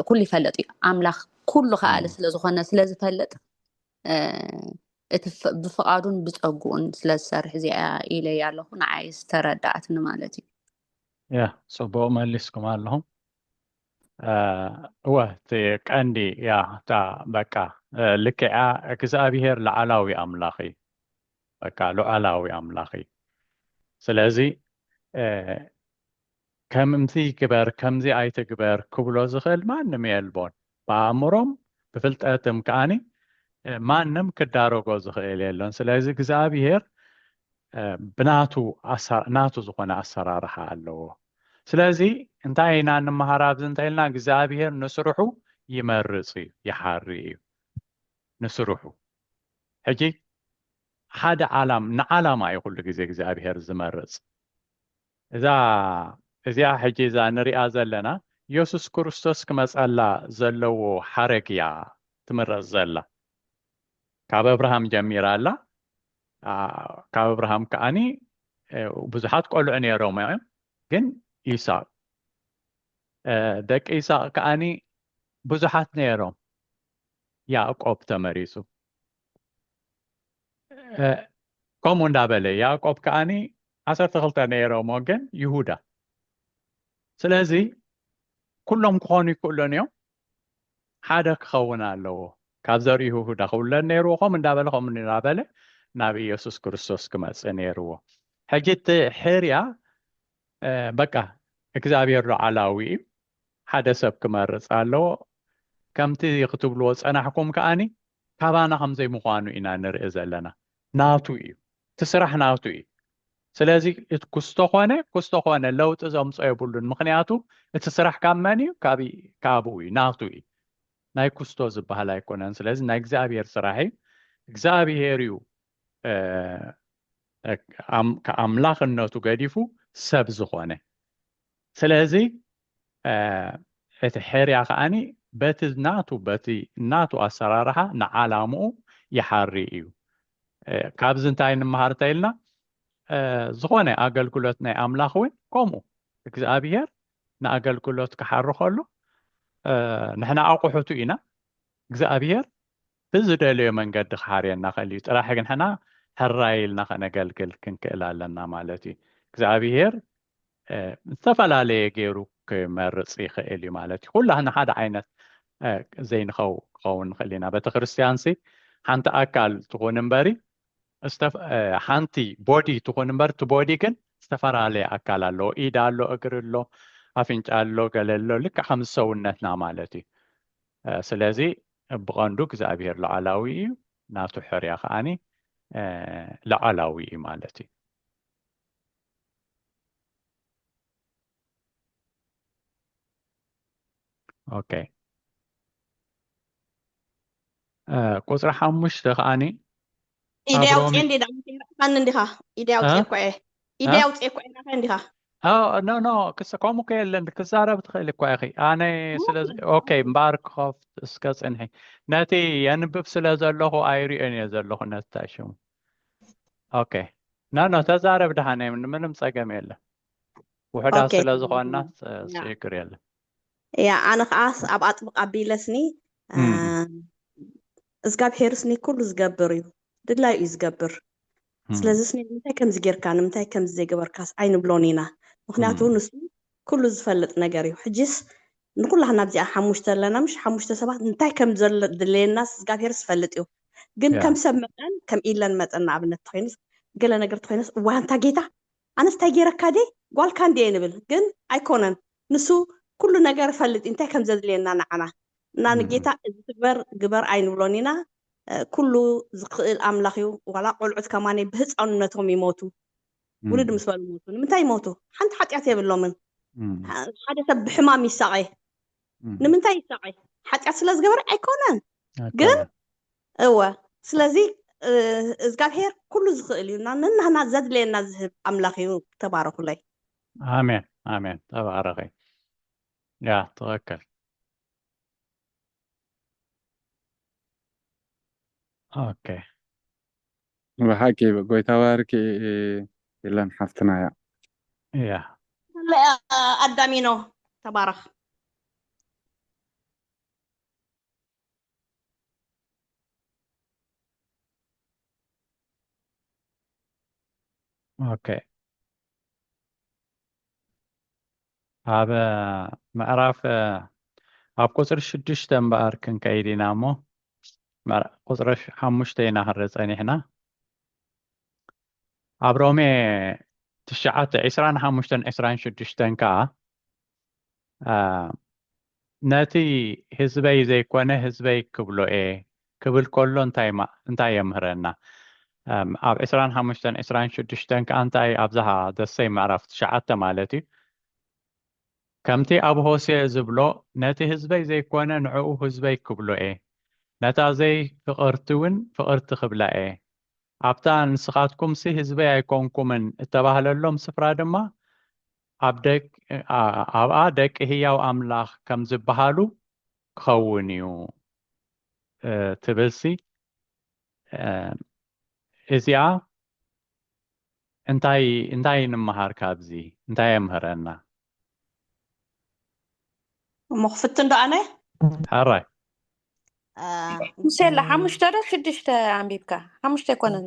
ኩሉ ይፈለጥ እዩ ኣምላኽ ኩሉ ከኣለ ስለዝኾነ ስለዝፈለጥ እቲ ብፍቃዱን ብፀጉኡን ስለዝሰርሕ እዚኣ ኢለይ ኣለኹ ንዓይ ዝተረዳእትኒ ማለት እዩ ያ ፅቡቅ መሊስኩም ኣለኹም እወ እቲ ቀንዲ ያ እታ በቃ ልክዓ እግዚኣብሄር ላዕላዊ ኣምላኽ እዩ በቃ ሉዓላዊ ኣምላኽ እዩ ስለዚ ከምዚ ግበር ከምዚ ኣይትግበር ክብሎ ዝኽእል ማንም የልቦን ብኣእምሮም ብፍልጠትም ከዓኒ ማንም ክዳረጎ ዝኽእል የሎን ስለዚ እግዚኣብሄር ብናቱ ናቱ ዝኾነ ኣሰራርሓ ኣለዎ ስለዚ እንታይ ኢና ንምሃር ኣብዚ እንታይ ኢልና እግዚኣብሄር ንስርሑ ይመርፅ እዩ ይሓሪ እዩ ንስርሑ ሕጂ ሓደ ዓላም ንዓላማ እዩ ኩሉ ግዜ እግዚኣብሄር ዝመርጽ እዛ እዚኣ ሕጂ እዛ ንሪኣ ዘለና የሱስ ክርስቶስ ክመጸላ ዘለዎ ሓረግ እያ ትምረጽ ዘላ ካብ ኣብርሃም ጀሚራ ኣላ ካብ ኣብርሃም ከዓኒ ብዙሓት ቆልዑ ነይሮም እዮም ግን ይስቅ ደቂ ይስቅ ከዓኒ ብዙሓት ነይሮም ያእቆብ ተመሪጹ። ከምኡ እንዳበለ ያእቆብ ከኣኒ ዓሰርተ ክልተ ነይሮሞ ግን ይሁዳ ስለዚ ኩሎም ክኾኑ ይክእሉን እዮም ሓደ ክኸውን ኣለዎ ካብ ዘርኢ ይሁዳ ክውለድ ነይርዎ ከምኡ እንዳበለ ከምኡ እንዳበለ ናብ ኢየሱስ ክርስቶስ ክመፅእ ነይርዎ ሕጂ እቲ ሕርያ በቃ እግዝኣብሄር ሉዓላዊ እዩ ሓደ ሰብ ክመርጽ ኣለዎ ከምቲ ክትብልዎ ዝጸናሕኩም ከኣኒ ካባና ከም ዘይምዃኑ ኢና ንርኢ ዘለና ናቱ እዩ እቲ ስራሕ ናቱ እዩ ስለዚ ክስቶ ኮነ ክስቶ ኮነ ለውጢ ዘምጾ የብሉን ምክንያቱ እቲ ስራሕ ካብ መን እዩ ካብ ካብኡ እዩ ናቱ እዩ ናይ ኩስቶ ዝበሃል ኣይኮነን ስለዚ ናይ እግዚኣብሄር ስራሕ እዩ እግዚኣብሄር እዩ ኣምላኽነቱ ገዲፉ ሰብ ዝኾነ ስለዚ እቲ ሕርያ ከዓኒ በቲ ናቱ በቲ ናቱ ኣሰራርሓ ንዓላምኡ ይሓሪ እዩ ካብዚ እንታይ ንምሃር እንተኢልና ዝኾነ ኣገልግሎት ናይ ኣምላኽ እውን ከምኡ እግዚኣብሄር ንኣገልግሎት ክሓሪ ከሎ ንሕና ኣቑሑቱ ኢና እግዚኣብሄር ብዝደለዮ መንገዲ ክሓርየና ይኽእል እዩ፣ ጥራሕ ግን ንሕና ሕራይ ኢልና ከነገልግል ክንክእል ኣለና ማለት እዩ። እግዚኣብሄር ዝተፈላለየ ገይሩ ክመርፅ ይኽእል እዩ ማለት እዩ። ኩላህና ሓደ ዓይነት ዘይንኸው ክኸውን ንኽእል ኢና። ቤተ ክርስቲያንሲ ሓንቲ ኣካል ትኹን እምበሪ ሓንቲ ቦዲ ትኹን እምበር እቲ ቦዲ ግን ዝተፈላለየ ኣካል ኣለዎ ኢድ ኣሎ እግሪ ኣሎ ኣፍንጫ ኣሎ ገለ ኣሎ ልክዕ ከም ሰውነትና ማለት እዩ ስለዚ ብቐንዱ እግዚኣብሄር ላዕላዊ እዩ፣ ናቱ ሕርያ ከኣኒ ላዕላዊ እዩ ማለት እዩ። ኦኬ ቁጽሪ ሓሙሽተ ከኣኒ ኢደይ ኣብ ኣውፅኤ ሮሜ እንዴ ዳዊት ይርሕካኒ እንዲኻ ኢደይ እ? ኣውፅኤ እኮ እየ እ? ኢደይ ኣውፅኤ እኮ እየ ናኸ እንዲኻ ኣዎ ኖ ኖ ክስ ከምኡ ከ የለን ክዛረብ ትኽእል እኳ ኢኺ ኣነ ስለ ኦኬ እምበኣር ክኸፍት እስከ ፅንሒ ነቲ የንብብ ስለ ዘለኹ ኣይሪኦን እየ ዘለኹ ነቲ ታይ ሽሙ ኦኬ ኖ ኖ ተዛረብ ድሓን እየ ምንም ፀገም የለን ውሑዳት ኦኬ ስለ ዝኾንና ፅ- ያ ፅግር የለን እያ ኣነ ከዓ ኣብ ኣጥብቅ ኣቢለስኒ እዝጋብሄር ስኒ ኩሉ ዝገብር እዩ ድላዩ እዩ ዝገብር ስለዚ ስኒ ንምንታይ ከምዚ ጌርካ ንምንታይ ከምዚ ዘይገበርካስ ኣይንብሎን ኢና ምክንያቱ ንሱ ኩሉ ዝፈልጥ ነገር እዩ ሕጂስ ንኩላህና ኣብዚኣ ሓሙሽተ ኣለና ምሽ ሓሙሽተ ሰባት እንታይ ከም ዘድለየናስ እግዚኣብሄር ዝፈልጥ እዩ ግን ከም ሰብ መጠን ከም ኢለን መጠን ንኣብነት ተኮይንስ ገለ ነገር ተኮይነስ እዋ እንታ ጌታ ኣነስ ታይ ገይረካ ድየ ጓልካ እንድየ ንብል ግን ኣይኮነን ንሱ ኩሉ ነገር እፈልጥ እዩ ታይ ከምዘድልየና ንዓና እና ንጌታ እዚ ትግበር ግበር ኣይንብሎን ኢና ኩሉ ዝክእል ኣምላክ እዩ ዋላ ቆልዑት ከማነይ ብህፃንነቶም ይሞቱ ውልድ ምስ በሉ ሞቱ ንምንታይ ይሞቱ ሓንቲ ሓጢኣት የብሎምን ሓደ ሰብ ብሕማም ይሳቀ ንምንታይ ይሳቀ ሓጢኣት ስለዝገበረ ኣይኮነን ግን እወ ስለዚ እዝጋብሄር ኩሉ ዝኽእል እዩ እና ንናህና ዘድልየና ዝህብ ኣምላኽ እዩ ተባረኹለይ ኣሜን ኣሜን ተባረኺ ያ ትኽክል ኦኬ ብሓቂ ጎይታ ባርኪ ኢለን ሓፍትና እያ እያ ኣዳሚኖ ተባረኽ ኦኬ ኣብ ምዕራፍ ኣብ ቁፅሪ ሽዱሽተ እምበኣር ክንከይድ ኢና እሞ ቁፅሪ ሓሙሽተ ኢና ክንርኢ ፀኒሕና ኣብ ሮሜ ትሽዓተ ዕስራን ሓሙሽተን ዕስራን ሽዱሽተን ከዓ ነቲ ህዝበይ ዘይኮነ ህዝበይ ክብሎ እየ ክብል ከሎ እንታይ የምህረና? ኣብ ዕስራን ሓሙሽተን ዕስራን ሽዱሽተን ከኣ እንታይ ኣብዝሃ ዘሰይ ምዕራፍ ትሽዓተ ማለት እዩ ከምቲ ኣብ ሆሴ ዝብሎ ነቲ ህዝበይ ዘይኮነ ንዕኡ ህዝበይ ክብሎ እየ ነታ ዘይ ፍቕርቲ እውን ፍቕርቲ ክብላ እየ ኣብታ ንስኻትኩምሲ ህዝበይ ኣይኮንኩምን እተባህለሎም ስፍራ ድማ ኣብኣ ደቂ ህያው ኣምላኽ ከም ዝበሃሉ ክኸውን እዩ ትብልሲ እዚኣ እንታይ እንታይ ንምሃር ካብዚ እንታይ የምህረና እሞ ክፍትን ዶ ኣነ ሕራይ ምሴላ ሓሙሽተ ዶ ሽዱሽተ ኣንቢብካ ሓሙሽተ ኣይኮነን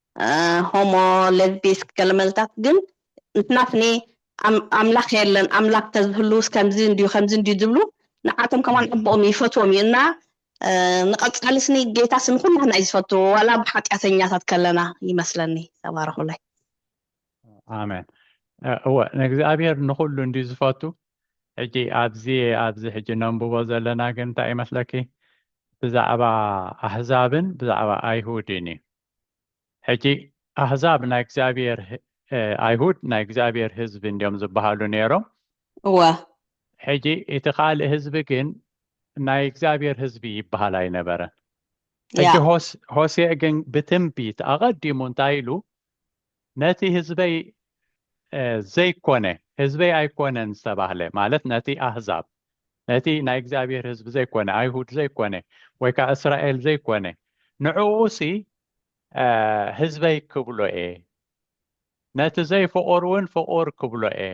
ሆሞ ለዝቢስክ ገለመለታት ግን ንሕናስኒ ኣምላኽ የለን ኣምላኽ ተዝህልውስ ከምዚ እንድዩ ከምዚ እንድዩ ዝብሉ ንዓቶም ከማን ኣቦኦም ይፈትዎም እዩ እና ንቐጻሊ ስኒ ጌታ ስኒ ኩላህና እዩ ዝፈቱ ዋላ ብሓጢኣተኛታት ከለና ይመስለኒ ተባረኹለይ ኣሜን እወ ንእግዚኣብሔር ንኹሉ እንድዩ ዝፈቱ ሕጂ ኣብዚ ኣብዚ ሕጂ ነንብቦ ዘለና ግን እንታይ ይመስለኪ ብዛዕባ ኣህዛብን ብዛዕባ ኣይሁድን እዩ ሕጂ ኣህዛብ ናይ እግዚኣብሔር ኣይሁድ ናይ እግዚኣብሔር ህዝቢ እንዲዮም ዝበሃሉ ነይሮም እወ ሕጂ እቲ ካልእ ህዝቢ ግን ናይ እግዚኣብሔር ህዝቢ ይበሃል ኣይነበረን ሕጂ ሆሴእ ግን ብትንቢት ኣቐዲሙ እንታይ ኢሉ ነቲ ህዝበይ ዘይኮነ ህዝበይ ኣይኮነን ዝተባህለ ማለት ነቲ ኣህዛብ ነቲ ናይ እግዚኣብሔር ህዝቢ ዘይኮነ ኣይሁድ ዘይኮነ ወይ ከዓ እስራኤል ዘይኮነ ንዕኡሲ ህዝበይ ክብሎ እየ ነቲ ዘይፍቑር እውን ፍቑር ክብሎ እየ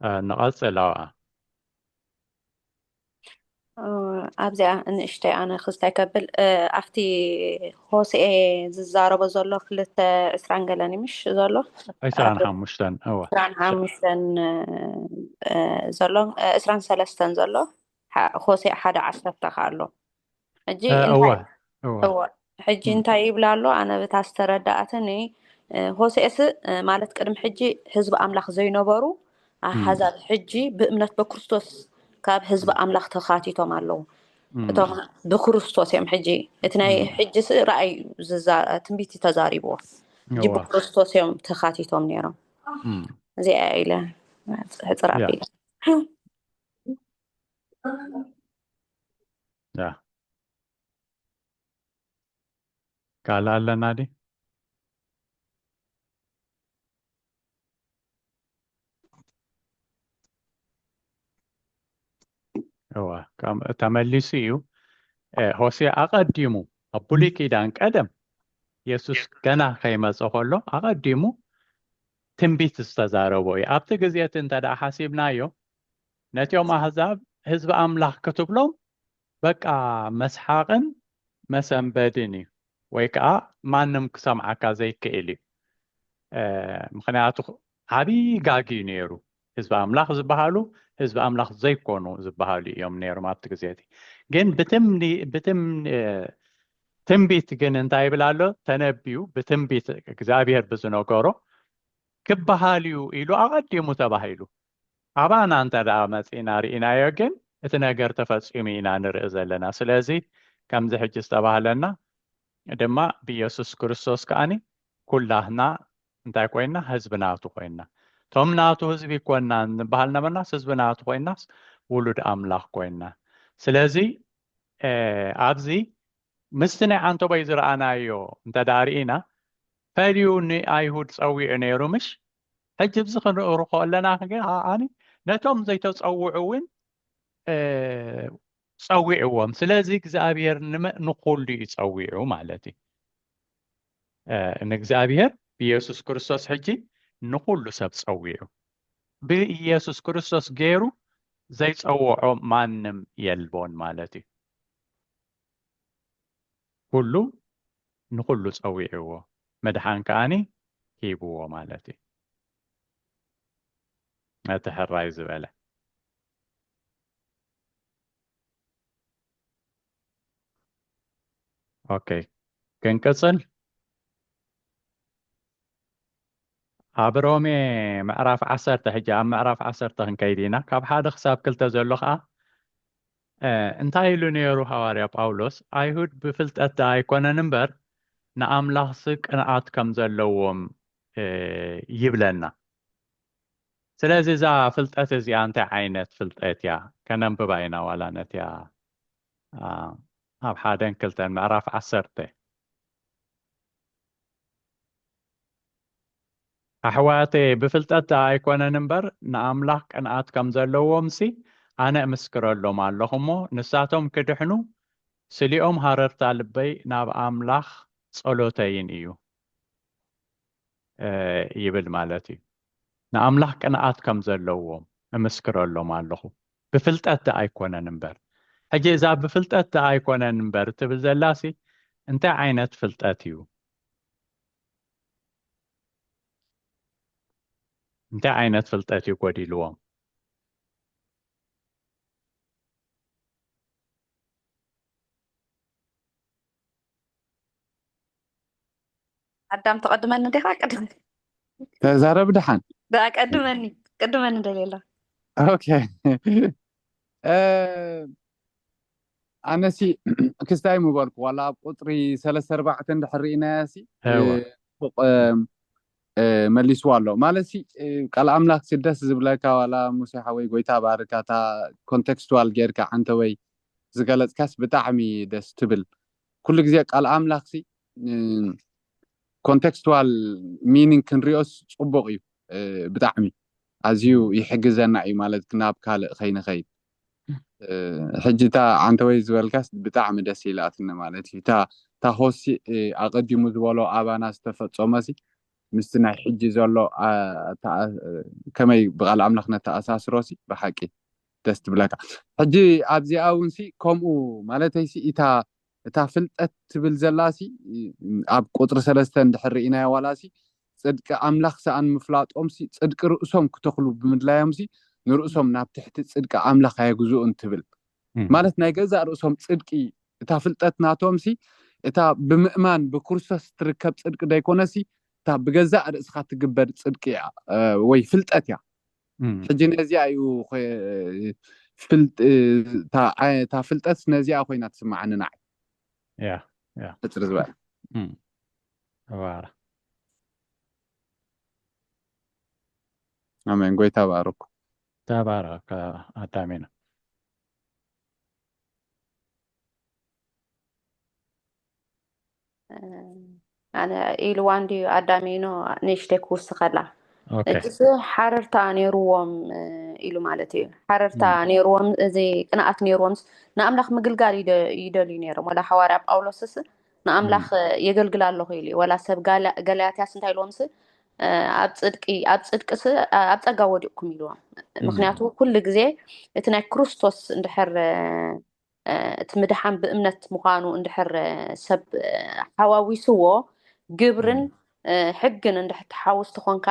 እ ንቐጽል ኣብኣ። ኣብዚኣ ንእሽተይ ኣነ ክስታይ ከብል እ ኣብቲ ሆሴኤ ዝዛረቦ ዘሎ ክልተ ዕስራን ገለን እዩ ምሽ ዘሎ ዕስራን ሓሙሽተን እወ ዕስራን ሓሙሽተን እ፣ ዘሎ እ፣ ዕስራን ሰለስተን ዘሎ ሐ- ሆሴዕ ሓደ ዓሰርተ ከ ኣሎ ሕጂ እወ እወ እወ ሕጂ እንታይ ይብላ ኣሎ ኣነ ብታ ዝተረዳኣትኒ ሆሴእስ ማለት ቅድሚ ሕጂ ህዝቢ ኣምላኽ ዘይነበሩ ኣሓዛብ ሕጂ ብእምነት በክርስቶስ ካብ ህዝቢ ኣምላኽ ተኻቲቶም ኣለዉ እቶም ብክርስቶስ እዮም ሕጂ እቲ ናይ ሕጂ ስ ራእይ ትንቢት ተዛሪብዎ ሕጂ ብክርስቶስ እዮም ተኻቲቶም ነይሮም እዚኣ ኢለ ሕፅር ኣቢለ ያ ካልእ ኣለና ዲ እዋ ከም- ተመሊሱ እዩ እ፣ ሆሴ ኣቐዲሙ ኣብ ብሉይ ኪዳን ቀደም የሱስ ገና ከይመፀ ከሎ ኣቐዲሙ ትንቢት ዝተዛረቦ እዩ ኣብቲ ግዜ እቲ እንተ ደኣ ሓሲብናዮ ነቲኦም ኣህዛብ ህዝቢ ኣምላኽ ክትብሎም በቃ መስሓቕን መሰንበድን እዩ ወይ ከኣ ማንም ክሰምዓካ ዘይክእል እዩ ምኽንያቱ ዓብዪ ጋግ እዩ ነይሩ ህዝቢ ኣምላኽ ዝበሃሉ ህዝቢ ኣምላኽ ዘይኮኑ ዝበሃሉ እዮም ነይሮም ኣብቲ ግዜ እቲ ግን ብትም ትንቢት ግን እንታይ ይብል ኣሎ ተነብዩ ብትንቢት እግዚኣብሔር ብዝነገሮ ክበሃል እዩ ኢሉ ኣቐዲሙ ተባሂሉ ኣባና እንተድኣ መጺእና ርኢናዮ ግን እቲ ነገር ተፈጺሙ ኢና ንርኢ ዘለና ስለዚ ከምዚ ሕጂ ዝተባህለና ድማ ብኢየሱስ ክርስቶስ ከኣ ኩላትና እንታይ ኮይና ህዝቢ ናቱ ኮይና እቶም ናቱ ህዝቢ ኮና ንበሃል ነበርናስ ህዝቢ ናቱ ኮይናስ ውሉድ ኣምላኽ ኮይና ስለዚ ኣብዚ ምስቲ ናይ ዓንተቦይ ዝረኣናዮ እንተድኣ ርኢና ፈልዩ ንኣይሁድ ጸዊዑ ነይሩ ምሽ ሕጂ ብዚ ክንርእሩ ከለና ኣኒ ነቶም ዘይተፀውዑ እውን ፀዊዕዎም ስለዚ እግዚኣብሔር ንኩሉ እዩ ፀዊዑ ማለት እዩ ንእግዚኣብሔር ብኢየሱስ ክርስቶስ ሕጂ ንኩሉ ሰብ ፀዊዑ ብኢየሱስ ክርስቶስ ገይሩ ዘይፀውዖ ማንም የልቦን ማለት እዩ ኩሉ ንኹሉ ጸዊዕዎ ምድሓን ከኣ ሂብዎ ማለት እዩ ነቲ ሕራይ ዝበለ። ኦኬ ክንቅጽል ኣብ ሮሜ ምዕራፍ ዓሰርተ ሕጂ ኣብ ምዕራፍ ዓሰርተ ክንከይድ ኢና ካብ ሓደ ክሳብ ክልተ ዘሎ ከዓ እንታይ ኢሉ ነይሩ ሃዋርያ ጳውሎስ፣ ኣይሁድ ብፍልጠት ደኣ ኣይኰነን እምበር፣ ንኣምላኽሲ ቅንኣት ከም ዘለዎም ይብለና። ስለዚ እዛ ፍልጠት እዚኣ እንታይ ዓይነት ፍልጠት እያ? ከነንብባ ኢና ዋላ ነቲኣ ኣብ ሓደን ክልተን ምዕራፍ ዓሰርተ። ኣሕዋተየ ብፍልጠት ኣይኮነን እምበር ንኣምላኽ ቅንኣት ከም ዘለዎምሲ ኣነ እምስክረሎም ኣሎኹ እሞ ንሳቶም ክድሕኑ ስሊኦም ሃረርታ ልበይ ናብ ኣምላኽ ጸሎተይን እዩ ይብል ማለት እዩ ንኣምላኽ ቅንኣት ከም ዘለዎም እምስክረሎም ኣሎኹ ብፍልጠት ደኣ ኣይኮነን እምበር ሕጂ እዛ ብፍልጠት ደኣ ኣይኮነን እምበር ትብል ዘላሲ እንታይ ዓይነት ፍልጠት እዩ እንታይ ዓይነት ፍልጠት እዩ ጎዲልዎም? ኣዳም ተቐድመኒ ዲኻ ቅድም ተዛረብ ድሓን ደኣ ቀድመኒ ቅድመኒ ደልየላ ኦኬ እ፣ ኣነሲ ክስታይ ምበልኩ ዋላ ኣብ ቁፅሪ ሰለስተ ኣርባዕተ እንድሕር ርኢናያሲ ፎቅ መሊስዋ ኣሎ ማለትሲ ቃል ኣምላክሲ ደስ ዝብለካ ዋላ ሙሴ ሓወይ ጎይታ ባርካ እታ ኮንቴክስቱዋል ጌርካ ዓንተወይ ዝገለፅካስ ብጣዕሚ ደስ ትብል ኩሉ ግዜ ቃል ኣምላክሲ ኮንቴክስቱዋል ሚኒንግ ክንሪኦስ ፅቡቅ እዩ ብጣዕሚ ኣዝዩ ይሕግዘና እዩ ማለት ናብ ካልእ ከይንኸይድ ሕጂ እታ ዓንተወይ ዝበልካስ ብጣዕሚ ደስ ኢላትኒ ማለት እዩ እታ እታ ሆሲ ኣቀዲሙ ዝበሎ ኣባና ዝተፈጸሞሲ ምስቲ ናይ ሕጂ ዘሎ ከመይ ብቃል ኣምላኽ ነተኣሳስሮሲ ብሓቂ ደስ ትብለካ ሕጂ ኣብዚኣ እውንሲ ከምኡ ማለተይሲ እታ እታ ፍልጠት ትብል ዘላሲ ኣብ ቁፅሪ ሰለስተ እንድሕር ርኢናዮ ዋላሲ ጽድቂ ኣምላኽ ሰኣን ምፍላጦምሲ ጽድቂ ርእሶም ክተኽሉ ብምድላዮምሲ ንርእሶም ናብ ትሕቲ ጽድቂ ኣምላኽ ኣየግዝኡን ትብል ማለት ናይ ገዛእ ርእሶም ጽድቂ እታ ፍልጠት ናቶምሲ እታ ብምእማን ብክርስቶስ እትርከብ ጽድቂ ዘይኮነሲ እታ ብገዛእ ርእስኻ እትግበር ጽድቂ እያ ወይ ፍልጠት እያ ሕጂ ነዚኣ እዩ እታ ፍልጠት ነዚኣ ኮይና ትስምዓኒ ንዓይ ሕፅር ዝበለ ተባረ ኣሜን ጎይታ ባርኩ ተባረ ኣዳሜና ኣነ ኢልዋ እንድዩ ኣዳሜኖ ንእሽተይ ክውስኸላ እሱ ሓረርታ ነይርዎም ኢሉ ማለት እዩ ሓረርታ ነይርዎም እዚ ቅንኣት ነይርዎም ንኣምላኽ ምግልጋል ይደልዩ ነይሮም ወላ ሓዋርያ ጳውሎስስ ንኣምላኽ የገልግላ ኣለኹ ኢሉ እዩ ወላ ሰብ ገላያትያስ እንታይ ኢልዎም ስ ኣብ ፅድቂ ኣብ ፅድቂ ስ ኣብ ፀጋ ወዲቕኩም ኢልዎም ምክንያቱ ኩሉ ግዜ እቲ ናይ ክርስቶስ እንድሕር እቲ ምድሓን ብእምነት ምዃኑ እንድሕር ሰብ ሓዋዊስዎ ግብርን ሕግን እንድሕር ትሓውስ ትኾንካ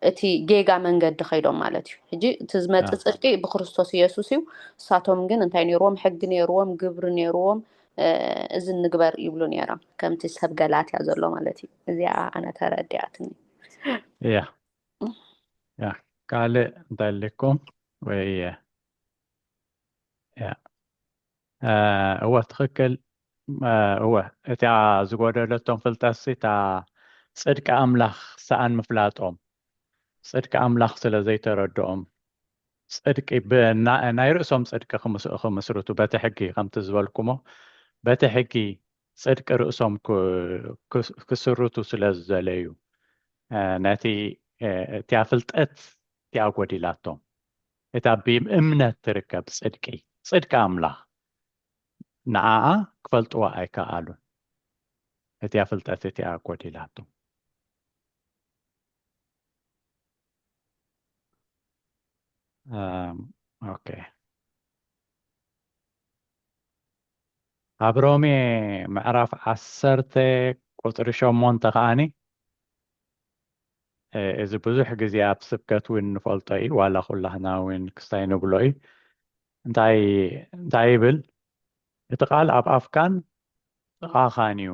እቲ ጌጋ መንገዲ ከይዶም ማለት እዩ ሕጂ እቲ ዝመፅእ ፅድቂ ብክርስቶስ ኢየሱስ እዩ እሳቶም ግን እንታይ ነይርዎም ሕጊ ነይርዎም ግብሪ ነይርዎም እዚ ንግበር ይብሉ ነይሮም ከምቲ ሰብ ገላትያ ዘሎ ማለት እዩ እዚኣ ኣነ ተረዲኣትኒ እያ ያ ካልእ እንታይ ኣለኩም ወይ እያ እወ ትኽክል እወ እቲኣ ዝጎደለቶም ፍልጠትሲ እታ ጽድቂ ኣምላኽ ሰኣን ምፍላጦም ጽድቂ ኣምላኽ ስለ ዘይተረድኦም ጽድቂ ናይ ርእሶም ጽድቂ ክምስርቱ በቲ ሕጊ ከምቲ ዝበልኩሞ በቲ ሕጊ ጽድቂ ርእሶም ክስርቱ ስለ ዝዘለዩ ነቲ እቲኣ ፍልጠት እቲኣ ጎዲላቶም እታ ብእምነት ትርከብ ጽድቂ፣ ጽድቂ ኣምላኽ፣ ንዓኣ ክፈልጥዋ ኣይከኣሉን፣ እቲኣ ፍልጠት እቲኣ ጎዲላቶም። ኦኬ ኣብ ሮሜ ምዕራፍ ዓሰርተ ቁፅሪ ሸሞንተ ከዓኒ እዚ ብዙሕ ግዜ ኣብ ስብከት እውን ንፈልጦ እዩ ዋላ ኩላህና እውን ክስታይ ንብሎ እዩ እንታይ እንታይ ይብል እቲ ቃል ኣብ ኣፍካን ጥቓኻን እዩ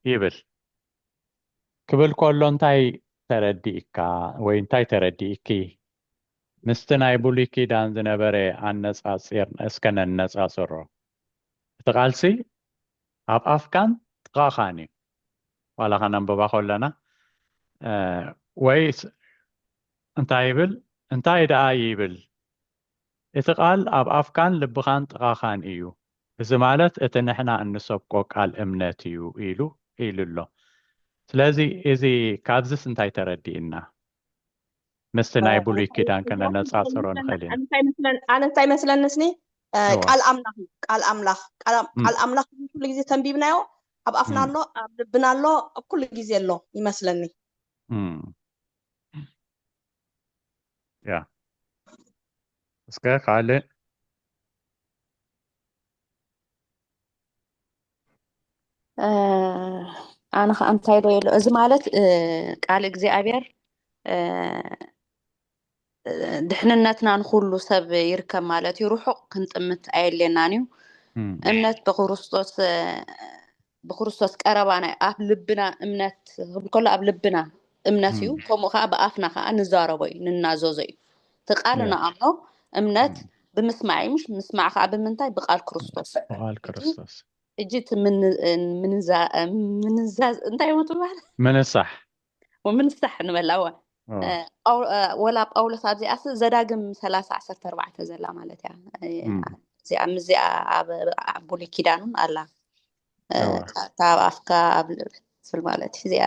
ይብል ክብል ከሎ እንታይ ተረዲእካ ወይ እንታይ ተረዲእኪ ምስቲ ናይ ብሉይ ኪዳን ዝነበረ ኣነጻጺር እስከ ነነጻጽሮ እቲ ቃልሲ ኣብ ኣፍካን ጥቓኻን እዩ ዋላ ከነንብባ ከለና ወይ እንታይ ይብል እንታይ ደኣ ይብል እቲ ቃል ኣብ ኣፍካን ልብኻን ጥቓኻን እዩ እዚ ማለት እቲ ንሕና እንሰብኮ ቃል እምነት እዩ ኢሉ ኢሉ ኣሎ ስለዚ እዚ ካብዚስ እንታይ ተረዲእና ምስቲ ናይ ብሉይ ኪዳን ከነነጻጽሮ ንኽእል ኢና። ኣነ እንታይ መስለንስኒ ቃል ኣምላኽ እዩ ቃል ኣምላኽ ቃል ኣምላኽ ኩሉ ግዜ ተንቢብናዮ ኣብ ኣፍና ኣሎ ኣብ ልብና ኣሎ ኣብ ኩሉ ግዜ ኣሎ ይመስለኒ ያ እስከ ካልእ ኣነ ከዓ እንታይ ዶ የሎ እዚ ማለት ቃል እግዚኣብሔር ድሕንነትና ንኩሉ ሰብ ይርከብ ማለት እዩ ርሑቅ ክንጥምት ኣየድልየናን እዩ እምነት ብክርስቶስ ብክርስቶስ ቀረባ ናይ ኣብ ልብና እምነት ክብል ከሎ ኣብ ልብና እምነት እዩ ከምኡ ከዓ ብኣፍና ከዓ ንዛረቦ እዩ ንናዘዞ እዩ ተቃርኖ ኣምኖ እምነት ብምስማዕ እዩ ምሽ ምስማዕ ከዓ ብምንታይ ብቃል ክርስቶስ ብቃል ክርስቶስ እጂ እቲ ምንዛዝ እንታይ ሞ ትባሃል ምንሳሕ ምንሳሕ ንበላዋ ወላ ጳውሎስ ኣብዚኣ ዘዳግም ሰላሳ ዓሰርተ ኣርባዕተ ዘላ ማለት እያ እዚኣ ኣብ ብሉይ ኪዳኑን ኣላ ካብ ኣፍካ ኣብ ልብል ማለት እዩ እዚኣ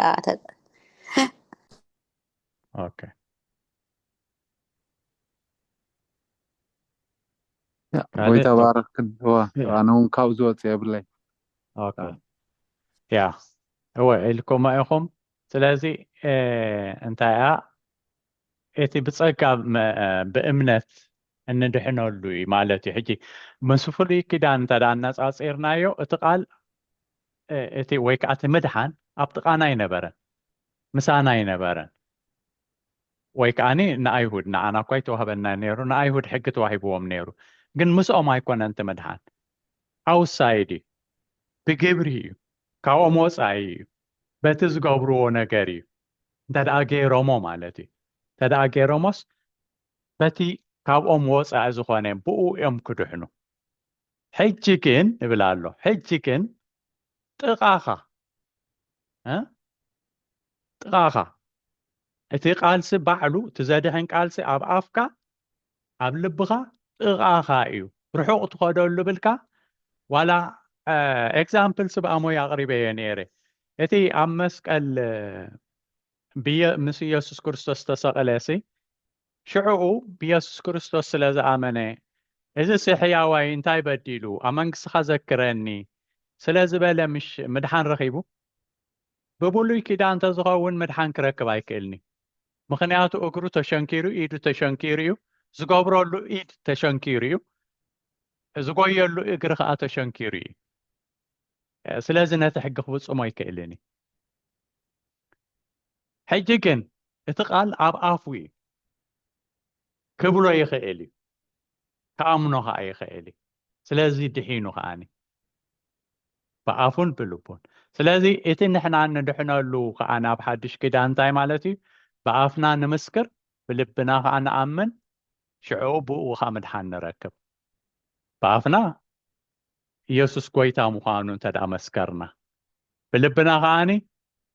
ያ ካልእ ጎይታ ኦኬ ባርክ እወ ያ ኣነ ውን ካብኡ ዝወፅ የብለይ ኦኬ ያ ያ እወ ኢልኩማ ኢኹም ስለዚ እ፣ እንታይ እያ እቲ ብጸጋ መ- እ፣ ብእምነት እንድሕነሉ እዩ ማለት እዩ ሕጂ ምስ ፍሉይ ኪዳን እንተ ደኣ ኣነጻጺርናዮ እቲ ቃል እ፣ እቲ ወይ ከዓ እቲ ምድሓን ኣብ ጥቓና ኣይነበረን ምሳና ኣይነበረን ወይ ከኣ ንኣይሁድ፣ ንዓና እኳ ኣይተዋህበናን ነይሩ፣ ንኣይሁድ ሕጊ ተዋሂብዎም ነይሩ፣ ግን ምስኦም ኣይኮነን እቲ ምድሓን፣ ኣውትሳይድ እዩ፣ ብግብሪ እዩ፣ ካብኦም ወጻኢ እዩ፣ በቲ ዝገብርዎ ነገር እዩ፣ እንተደኣ ገይሮሞ ማለት እዩ፣ እንተደኣ ገይሮሞስ በቲ ካብኦም ወጻኢ ዝኾነ ብእኡ እዮም ክድሕኑ፣ ሕጂ ግን ይብል ኣሎ፣ ሕጂ ግን ጥቓኻ ጥቓኻ እቲ ቃልሲ ባዕሉ እቲ ዘድሕን ቃልሲ ኣብ ኣፍካ ኣብ ልብኻ ጥቓኻ እዩ ርሑቕ ትኸደሉ ብልካ ዋላ ኤግዛምፕል ስብኣሞይ ኣቕሪበ እየ ነይረ እቲ ኣብ መስቀል ምስ ኢየሱስ ክርስቶስ ተሰቕለ ሲ ሽዕኡ ብየሱስ ክርስቶስ ስለ ዝኣመነ፣ እዝሲ ሕያዋይ እንታይ በዲሉ፣ ኣብ መንግሥትኻ ዘክረኒ፣ ስለ ዝበለ ምሽ ምድሓን ረኺቡ? ብብሉይ ኪዳን ተዝኸውን ምድሓን ክረክብ ኣይክእልን'ዩ። ምኽንያቱ እግሩ ተሸንኪሩ፣ ኢዱ ተሸንኪሩ'ዩ፣ ዝገብረሉ ኢድ ተሸንኪሩ'ዩ፣ ዝጎየሉ እግሪ ከኣ ተሸንኪሩ'ዩ። ስለዚ ነቲ ሕጊ ክፍጽሞ ኣይክእልን'ዩ። ሕጂ ግን እቲ ቃል ኣብ ኣፉ እዩ ክብሎ ይኽእል እዩ ክኣምኖ ከኣ ይኽእል እዩ ስለዚ ድሒኑ ከኣኒ ብኣፉን ብልቡን ስለዚ እቲ ንሕና ንድሕነሉ ከዓ ናብ ሓድሽ ኪዳን እንታይ ማለት እዩ ብኣፍና ንምስክር ብልብና ከዓ ንኣምን ሽዑ ብኡ ከዓ ምድሓን ንረክብ ብኣፍና ኢየሱስ ጎይታ ምዃኑ እንተድኣ መስከርና፣ ብልብና ከኣኒ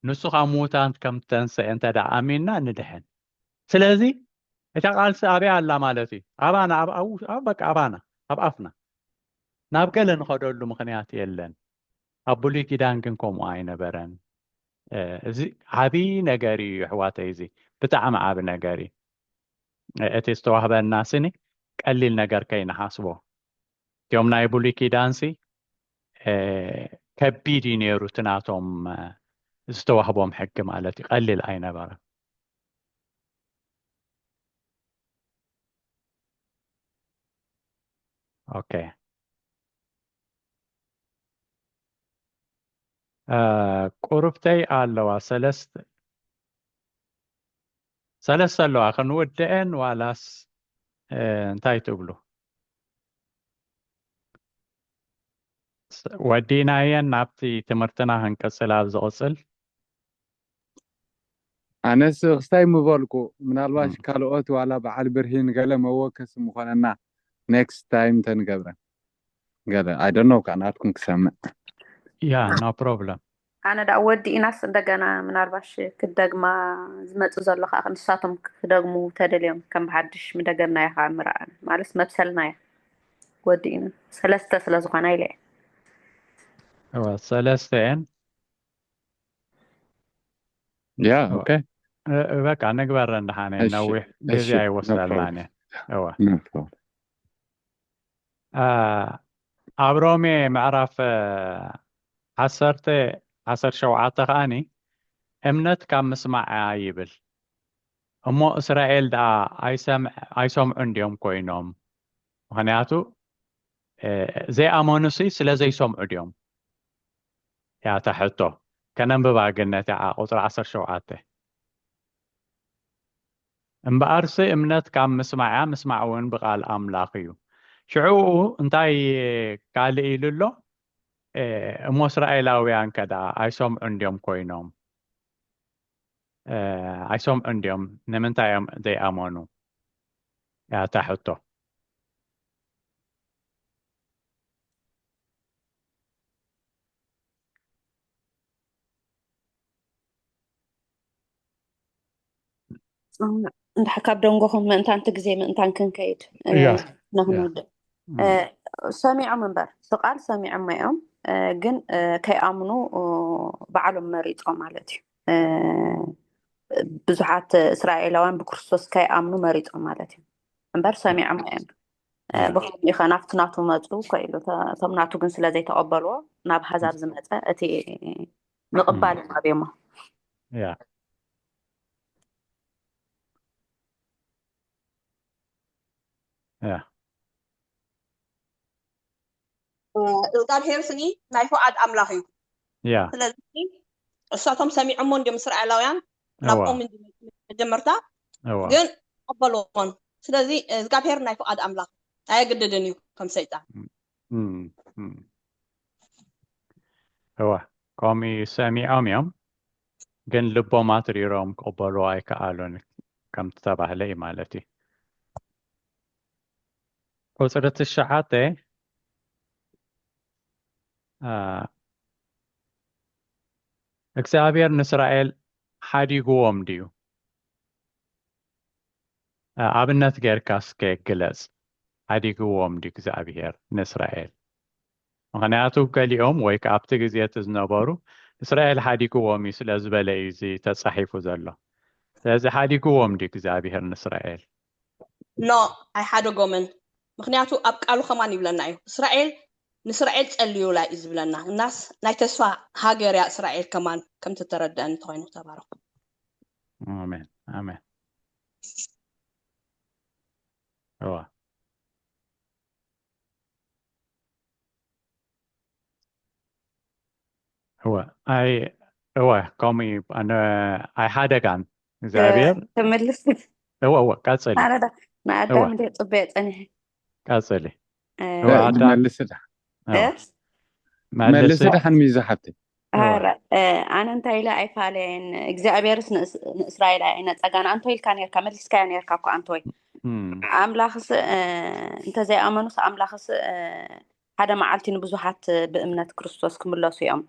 ንሱ ካብ ምዉታት ከም እተንሰኤ እንተድኣ ኣሚንና ንድሕን። ስለዚ እታ ቃልሲ ኣበይ ኣላ ማለት እዩ? ኣባና ኣብ ኣብ ኣብ በቃ ኣባና ኣብ ኣፍና። ናብ ገለ ንኸደሉ ምኽንያት የለን። ኣብ ብሉይ ኪዳን ግን ከምኡ ኣይነበረን። እዚ ዓቢ ነገር እዩ ኣሕዋተይ እዚ ብጣዕሚ ዓቢ ነገር እዩ። እቲ ዝተዋህበና ስኒ ቀሊል ነገር ከይንሓስቦ። እቲኦም ናይ ብሉይ ኪዳንሲ ከቢድ እዩ ነይሩ እቲ ናቶም ዝተዋህቦም ሕጊ ማለት እዩ ቀሊል ኣይነበረን ኦኬ ቁርብተይ ኣለዋ ሰለስተ ሰለስተ ኣለዋ ክንውድአን ዋላስ እንታይ ትብሉ ወዲናየን ናብቲ ትምህርትና ክንቅጽል ኣብ ዝቕጽል ኣነስ ክስታይ ምበልኩ ምናልባሽ ካልኦት ዋላ በዓል ብርሂን ገለ መወከሲ ምኾነና ኔክስት ታይም ተንገብረ ገለ ኣይ ዶንት ኖው ካኣ ናትኩም ክሰምዕ ያ ኖ ፕሮብለም ኣነ ዳኣ ወዲኢናስ እንደገና ምናልባሽ ክደግማ ዝመጽእ ዘሎ ከዓ ንሳቶም ክደግሙ ተደልዮም ከም ብሓድሽ ምደገምናዮ ከዓ ምርኣን ማለት መብሰልናዮ ወዲኢና ሰለስተ ስለ ዝኾና ኢለ እዋ ሰለስተ እየን ያ ኦኬ በቃ ንግበረን ደሓነ ነዊሕ ግዜ ኣይወስደልናን እየን እዋ ኣብ ሮሜ ምዕራፍ ዓሰርተ ዓሰርተ ሸውዓተ ከኣኒ እምነት ካብ ምስማዕ እያ ይብል እሞ እስራኤል ደኣ ኣይሰምዑን ድዮም ኮይኖም ምክንያቱ ዘይኣመኑ ሲ ስለ ዘይሰምዑ ድዮም እያ እታ ሕቶ ከነንብባ ግን ነቲ ቁፅሪ ዓሰርተ ሸውዓተ እምበኣርሲ እምነት ካብ ምስማዕ እያ፣ ምስማዕ እውን ብቓል ኣምላኽ እዩ። ሽዕኡ እንታይ ካልእ ኢሉ ኣሎ? እሞ እስራኤላውያንከ ደኣ ኣይሰምዑን ድዮም ኰይኖም? ኣይሰምዑን ድዮም? ንምንታይ እዮም ዘይኣመኑ? እያ እታ ሕቶ። እንድሕር ካብ ደንጎኹም ምእንታን እቲ ግዜ ምእንታን ክንከይድ ንክንውድእ ሰሚዖም እምበር ብቃል ሰሚዖም እዮም ግን ከይኣምኑ በዓሎም መሪፆም ማለት እዩ ብዙሓት እስራኤላውያን ብክርስቶስ ከይኣምኑ መሪፆም ማለት እዩ እምበር ሰሚዖም እዮም ብኸምኡ ኸ ናብቲ ናቱ መፁ ከኢሉ እቶም ናቱ ግን ስለ ዘይተቐበልዎ ናብ ሃዛብ ዝመፀ እቲ ምቕባል ኣብዮሞ እዝጋብሄር ስኒ ናይ ፉዓድ ኣምላኽ እዩ ስለዚ እሳቶም ሰሚዖሞ እንዲም እስራኤላውያን ናብኦም እንዲ መጀመርታ ግን ኣበልዎን ስለዚ እዝጋብሄር ናይ ፉዓድ ኣምላኽ ኣየግድድን እዩ ከም ሰይጣን እወ ከምኡ ሰሚዖም እዮም ግን ልቦም ኣትሪሮም ክቕበሉ ኣይከኣሉን ከም ተባህለ እዩ ማለት እዩ ቁጽሪ ትሽዓተ እግዚኣብሔር ንእስራኤል ሓዲግዎም ድዩ? ኣብነት ጌርካ እስከ ግለጽ ሓዲግዎም ድዩ እግዚኣብሔር ንእስራኤል? ምክንያቱ ገሊኦም ወይ ከዓ ኣብቲ ግዜ እቲ ዝነበሩ እስራኤል ሓዲግዎም እዩ ስለ ዝበለ እዩ እዚ ተጻሒፉ ዘሎ ስለዚ ሓዲግዎም ድዩ እግዚኣብሔር ንእስራኤል ኖእ ኣይሓደጎምን ምክንያቱ ኣብ ቃሉ ከማን ይብለና እዩ እስራኤል ንእስራኤል ጸልዩላ እዩ ዝብለና እናስ ናይ ተስፋ ሃገር እያ እስራኤል ከማን ከም ተተረድአኒ ተኮይኑ ተባረኩ ኣሜን ኣሜን እዋ እዋ ኣይ እዋ ከምኡ እዩ ኣነ ኣይሓደጋን እግዚኣብሔር ተመልስ እወ እወ ቀፅሊ ኣረዳ ንኣዳም እንደ ፅበየ ፀኒሐ ቀፅሊ መልስ መልስ ድሓን ሚዛ ሓብቲ ኣነ እንታይ ኢለ ኣይፋለየን እግዚኣብሔርስ ንእስራኤል ኣይነፀጋን ኣንቶ ኢልካ ነርካ መሊስካዮ ነርካ እኳ ኣንቶይ ኣምላኽስ እንተዘይኣመኑስ ኣምላኽስ ሓደ መዓልቲ ንብዙሓት ብእምነት ክርስቶስ ክምለሱ እዮም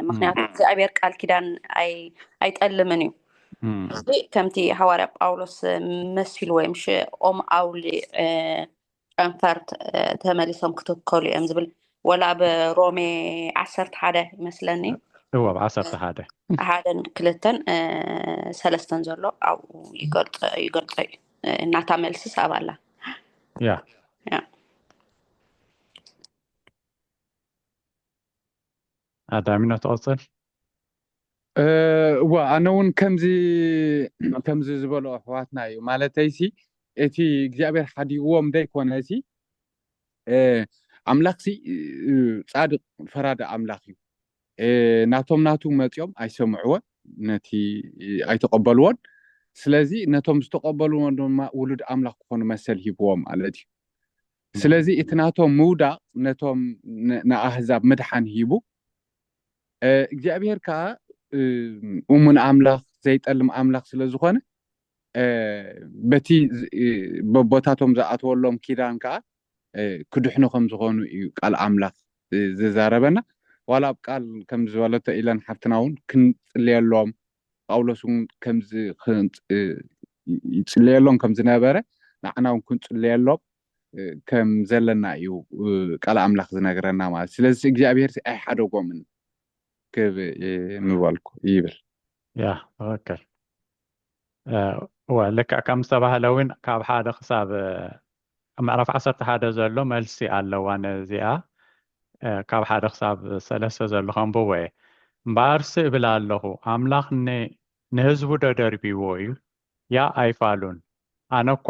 ምክንያቱ እግዚኣብሔር ቃል ኪዳን ኣይጠልምን እዩ እዚ ከምቲ ሃዋርያ ጳውሎስ መሲሉ ወይ ምሽ ኦም ኣውሊ ጨንፈር ተመሊሶም ክትከሉ እዮም ዝብል ወላ ኣብ ሮሜ ዓሰርተ ሓደ ይመስለኒ እዎ ኣብ ዓሰርተ ሓደ ሓደን ክልተን ሰለስተን ዘሎ ኣብኡ ይገልፆ እዩ እናታ መልሲ ሳብ ኣላ ኣዳሚኖ ትቐፅል እዋ ኣነ እውን ከምዚ ከምዚ ዝበሉ ኣሕዋትና እዩ ማለተይሲ እቲ እግዚኣብሔር ሓዲዎም ዘይኮነሲ ኣምላኽሲ ፃድቅ ፈራዲ ኣምላኽ እዩ ናቶም ናቱ መፂኦም ኣይሰምዕዎን ነቲ ኣይተቀበልዎን ስለዚ ነቶም ዝተቀበልዎ ድማ ውሉድ ኣምላኽ ክኾኑ መሰል ሂብዎም ማለት እዩ ስለዚ እቲ ናቶም ምውዳቕ ነቶም ንኣህዛብ ምድሓን ሂቡ፣ እግዚኣብሄር ከኣ እሙን ኣምላኽ ዘይጠልም ኣምላኽ ስለ ዝኾነ በቲ በቦታቶም ዝኣተወሎም ኪዳን ከኣ ክድሕኑ ከም ዝኾኑ እዩ ቃል ኣምላኽ ዝዛረበና። ዋላ ኣብ ቃል ከም ዝበለቶ ኢለን ሓፍትና እውን ክንጽልየሎም ጳውሎስ እውን ከምዚ ይጽልየሎም ከም ዝነበረ ንዓና እውን ክንጽልየሎም ከም ዘለና እዩ ቃል ኣምላኽ ዝነግረና ማለት ስለዚ እግዚኣብሄር ኣይሓደጎምን ክብ ምበልኩ ይብል ያ ትክክል እወ ልክዕ ከም ዝተባህለ እውን ካብ ሓደ ክሳብ ኣብ ምዕራፍ ዓሰርተ ሓደ ዘሎ መልሲ ኣለዋ ነዚኣ ካብ ሓደ ክሳብ ሰለስተ ዘሎ ከንብቦ እየ እምበኣርሲ እብል ኣለኹ ኣምላኽ ንህዝቡ ዶ ደርቢዎ እዩ ያእ ኣይፋሉን ኣነ እኳ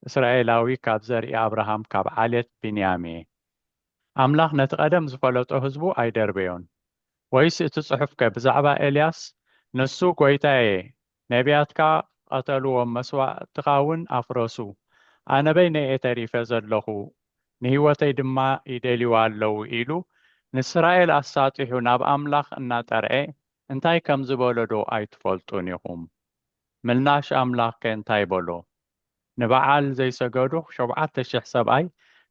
እስራኤላዊ ካብ ዘርኢ ኣብርሃም ካብ ዓሌት ብንያም እየ ኣምላኽ ነቲ ቀደም ዝፈለጦ ህዝቡ ኣይደርበዮን ወይስ እቲ ጽሑፍከ ብዛዕባ ኤልያስ ንሱ ጐይታየ ነብያትካ ቐተልዎም መስዋእትኻ ውን ኣፍረሱ ኣነ በይነይ እየ ተሪፈ ዘለኹ ንህይወተይ ድማ ይደልይዋ ኣለዉ ኢሉ ንስራኤል ኣሳጢሑ ናብ ኣምላኽ እናጠርዔ እንታይ ከም ዝበሎ ዶ ኣይትፈልጡን ኢኹም ምላሽ ኣምላኽ ከ እንታይ በሎ ንበዓል ዘይሰገዱ ሾብዓተ ሽሕ ሰብኣይ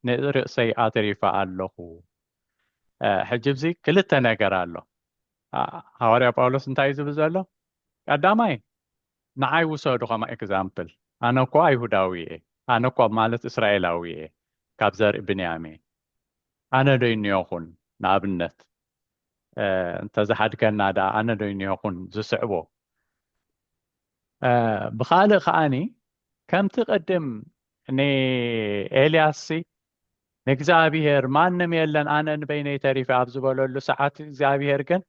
ንርእሰይ ኣትሪፈ ኣለኹ ሕጂ እብዚ ክልተ ነገር ኣሎ ሃዋርያ ጳውሎስ እንታይ እዩ ዝብል ዘሎ ቀዳማይ ንዓይ ውሰዱ ከም ኤግዛምፕል ኣነ እኮ ኣይሁዳዊ እየ ኣነ እኮ ማለት እስራኤላዊ እየ ካብ ዘርኢ ብንያም እየ ኣነ ዶ ይንዮኩን ንኣብነት እንተ ዝሓድገና ደኣ ኣነ ዶ ይንዮኩን ዝስዕቦ ብኻልእ ከኣኒ ከምቲ ቅድም ንኤልያስ ንእግዚኣብሄር ማንም የለን ኣነ ንበይነይ ተሪፈ ኣብ ዝበለሉ ሰዓት እግዚኣብሄር ግን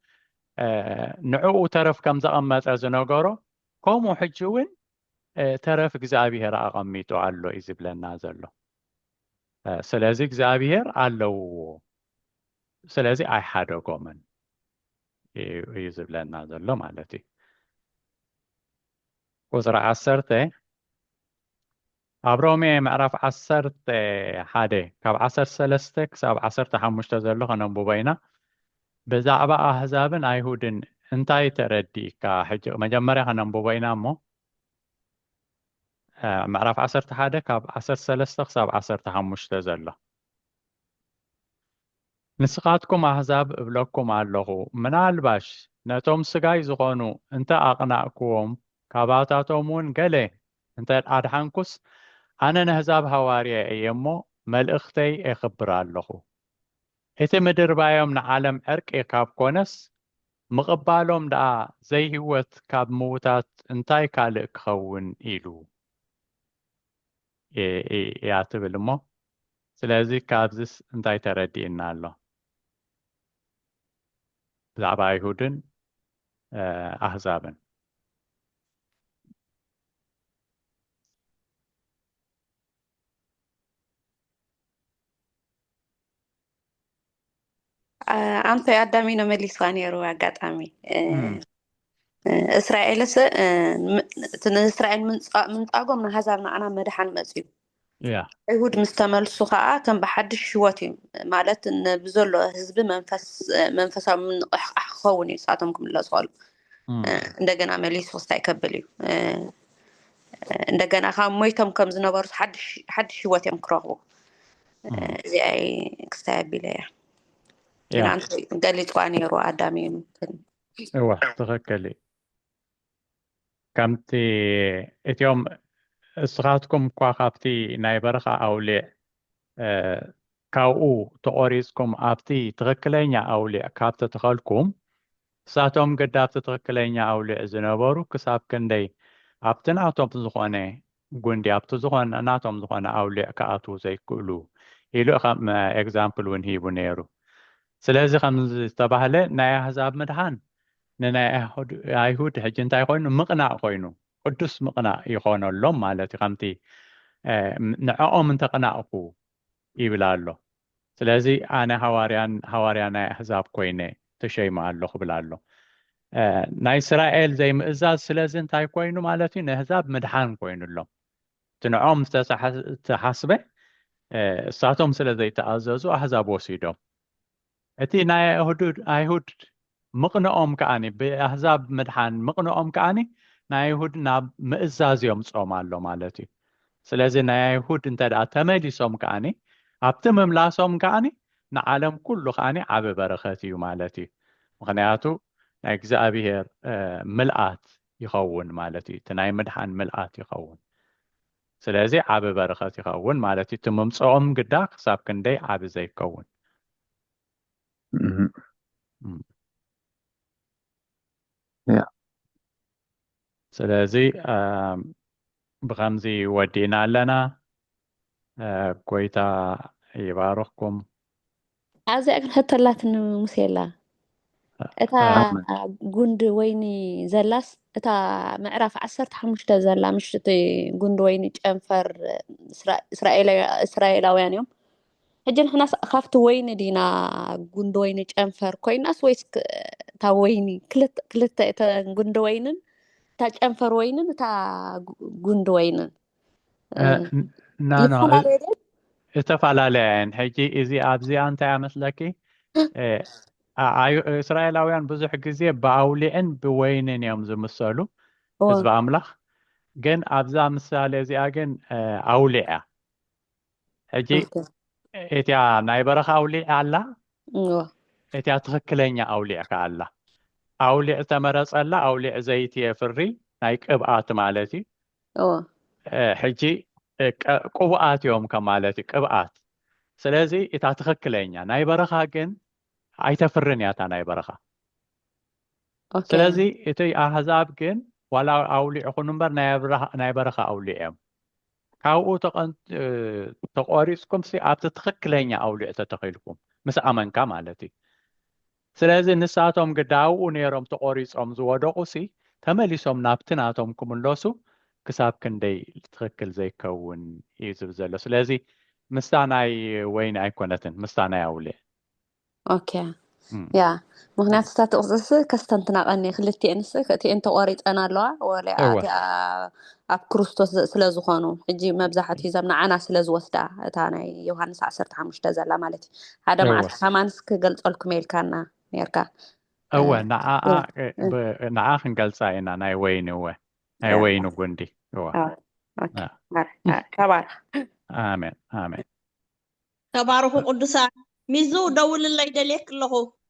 ንዕኡ ተረፍ ከም ዘቐመጠ ዝነገሮ ከምኡ ሕጂ እውን ተረፍ እግዚኣብሄር ኣቐሚጡ ኣሎ እዩ ዝብለና ዘሎ ስለዚ እግዚኣብሄር ኣለውዎ ስለዚ ኣይሓደጎምን እዩ ዝብለና ዘሎ ማለት እዩ ቁፅሪ ዓሰርተ ኣብ ሮሜ ምዕራፍ ዓሰርተ ሓደ ካብ ዓሰርተ ሰለስተ ክሳብ ዓሰርተ ሓሙሽተ ዘሎ ከነንብቦ ኢና። ብዛዕባ ኣህዛብን ኣይሁድን እንታይ ተረዲእካ? ሕጂ መጀመርያ ከነንብቦ ኢና እሞ ምዕራፍ ዓሰርተ ሓደ ካብ ዓሰርተ ሰለስተ ክሳብ ዓሰርተ ሓሙሽተ ዘሎ ንስኻትኩም ኣህዛብ እብለኩም ኣለኹ ምናልባሽ ነቶም ስጋይ ዝኾኑ እንተ ኣቕናእክዎም ካባታቶም እውን ገለ እንተ ኣድሓንኩስ ኣነ ነህዛብ ሃዋርያ እየ እሞ መልእኽተይ ኤኽብር ኣሎኹ። እቲ ምድርባዮም ንዓለም ዕርቂ ካብ ኮነስ ምቕባሎም ደኣ ዘይህይወት ካብ ምውታት እንታይ ካልእ ክኸውን ኢሉ እያ ትብል እሞ ስለዚ ካብዚስ እንታይ ተረዲእና ኣሎ ብዛዕባ ኣይሁድን ኣህዛብን። ኣንተ ኣዳሚኖ መሊስዋ ነይሩ ኣጋጣሚ እስራኤልስ እቲ ንእስራኤል ምንጻጎም ንሃዛብ ንዓና መድሓን መፅዩ ኣይሁድ ምስ ተመልሱ ከዓ ከም ብሓድሽ ህይወት እዩ ማለት ብዘሎ ህዝቢ መንፈሳዊ ምንቕሕቃሕ ክኸውን እዩ ንሳቶም ክምለሱ ከሉ እንደገና መሊሱ ክስታይ ከብል እዩ እንደገና ካብ ሞይቶም ከም ዝነበሩ ሓድሽ ህይወት እዮም ክረኽቡ እዚኣይ ክስታይ ኣቢለ እያ ገሊፅዋ ነይሩ ኣዳሚ እዩ እዋ ትኸከል እዩ ከምቲ እቲኦም እስኻትኩም እኳ ካብቲ ናይ በረኻ ኣውሊዕ ካብኡ ተቖሪጽኩም ኣብቲ ትኽክለኛ ኣውሊዕ ካብ ተተኸልኩም እሳቶም ግዳ ኣብቲ ትኽክለኛ ኣውሊዕ ዝነበሩ ክሳብ ክንደይ ኣብቲ ናቶም ዝኾነ ጉንዲ ኣብቲ ዝኾነ ናቶም ዝኾነ ኣውሊዕ ክኣትዉ ዘይክእሉ ኢሉ ከም ኤግዛምፕል እውን ሂቡ ነይሩ። ስለዚ ከምዚ ዝተባህለ ናይ ኣህዛብ ምድሓን ንናይ ኣይሁድ ሕጂ እንታይ ኮይኑ ምቕናእ ኮይኑ ቅዱስ ምቕናእ ይኾነሎም ማለት እዩ ከምቲ ንዐኦም እንተቕናእኩ ይብል ኣሎ። ስለዚ ኣነ ሃዋርያን ሃዋርያ ናይ ኣህዛብ ኮይነ ተሸይመ ኣሎ ክብል ኣሎ። ናይ እስራኤል ዘይምእዛዝ ስለዚ እንታይ ኮይኑ ማለት እዩ ነህዛብ ምድሓን ኮይኑሎም እቲ ንዖም ዝተሓስበ እሳቶም ስለ ዘይተኣዘዙ ኣህዛብ ወሲዶም እቲ ናይ ኣይሁድ ምቕንኦም ከኣ ብኣህዛብ ምድሓን ምቕንኦም ከኣ ናይ ኣይሁድ ናብ ምእዛዝ የምጾም ኣሎ ማለት እዩ ስለዚ ናይ ኣይሁድ እንተ ተመሊሶም ከኣ ኣብቲ ምምላሶም ከኣ ንዓለም ኩሉ ከኣ ዓብ በረኸት እዩ ማለት እዩ ምክንያቱ ናይ እግዚኣብሔር ምልኣት ይኸውን ማለት እዩ እቲ ናይ ምድሓን ምልኣት ይኸውን ስለዚ ዓቢ በርኸት ይኸውን ማለት እዩ። እቲ ምምጽኦም ግዳ ክሳብ ክንደይ ዓቢ ዘይከውን። ስለዚ ብኸምዚ ወዲእና ኣለና። ጎይታ ይባርኽኩም። ኣብዚኣ ግን ሕቶ ኣላትኒ ሙሴላ እታ ጉንዲ ወይኒ ዘላስ እታ ምዕራፍ ዓሰርተ ሓሙሽተ ዘላ ምሽቲ ጉንዲ ወይኒ ጨንፈር እስራኤላውያን እዮም ሕጂ ንሕናስ ካብቲ ወይኒ ዲና ጉንዲ ወይኒ ጨንፈር ኮይናስ ወይስ እታ ወይኒ ክልተ እተ ጉንዲ ወይንን እታ ጨንፈር ወይንን እታ ጉንዲ ወይንን ዝተፈላለያ እየን ሕጂ እዚ ኣብዚኣ እንታይ ኣመስለኪ እስራኤላውያን ብዙሕ ግዜ ብኣውሊዕን ብወይንን እዮም ዝምሰሉ ህዝቢ ኣምላኽ ግን ኣብዛ ምሳሌ እዚኣ ግን ኣውሊዕ እያ ሕጂ እቲያ ናይ በረኻ ኣውሊዕ ኣላ እቲያ ትኽክለኛ ኣውሊዕ ከ ኣላ ኣውሊዕ ተመረፀላ ኣውሊዕ ዘይቲ የፍሪ ናይ ቅብኣት ማለት እዩ እወ ሕጂ ቅቡኣት እዮም ከማለት እዩ ቅብኣት ስለዚ እታ ትኽክለኛ ናይ በረኻ ግን ኣይተፍርን እያ እታ ናይ በረኻ ስለዚ እቲ ኣህዛብ ግን ዋላ ኣውሊዕ ይኹን እምበር ናይ በረኻ ኣውሊዕ እዮም ካብኡ ተቆሪፅኩም ኣብቲ ትኽክለኛ ኣውሊዕ ተተኺልኩም ምስ ኣመንካ ማለት እዩ ስለዚ ንሳቶም ግዳ ኣብኡ ነይሮም ተቖሪጾም ዝወደቑሲ ተመሊሶም ናብቲ ናቶም ክምለሱ ክሳብ ክንደይ ትኽክል ዘይከውን እዩ ዝብል ዘሎ። ስለዚ ምስታ ናይ ወይኒ ኣይኮነትን ምስታ ናይ ኣውሊዕ። ኦኬ ያ ምክንያቱ እታ ጥቕስስ ከስተንትና ቀኒ ክልቲኤንስ እቲኤን ተቖሪፀን ኣለዋ ወሊኣ እወ እቲኣ ኣብ ክርስቶስ ስለ ዝኾኑ ሕጂ መብዛሕትኡ ዘም ንዓና ስለ ዝወስዳ እታ ናይ ዮሃንስ ዓሰርተ ሓሙሽተ ዘላ ማለት እዩ ሓደ እወ መዓልቲ ከማንስ ክገልጸልኩም የልካና ነርካ እወ ንዓኣ ንዓ ክንገልጻ ኢና ናይ ወይኒ እወ ናይ ወይኒ ጉንዲ እወ ተባረኽ ኣሜን ኣሜን ተባረኹ ቅዱሳን ሚዙ ደውልለይ ደልየክ ኣለኹ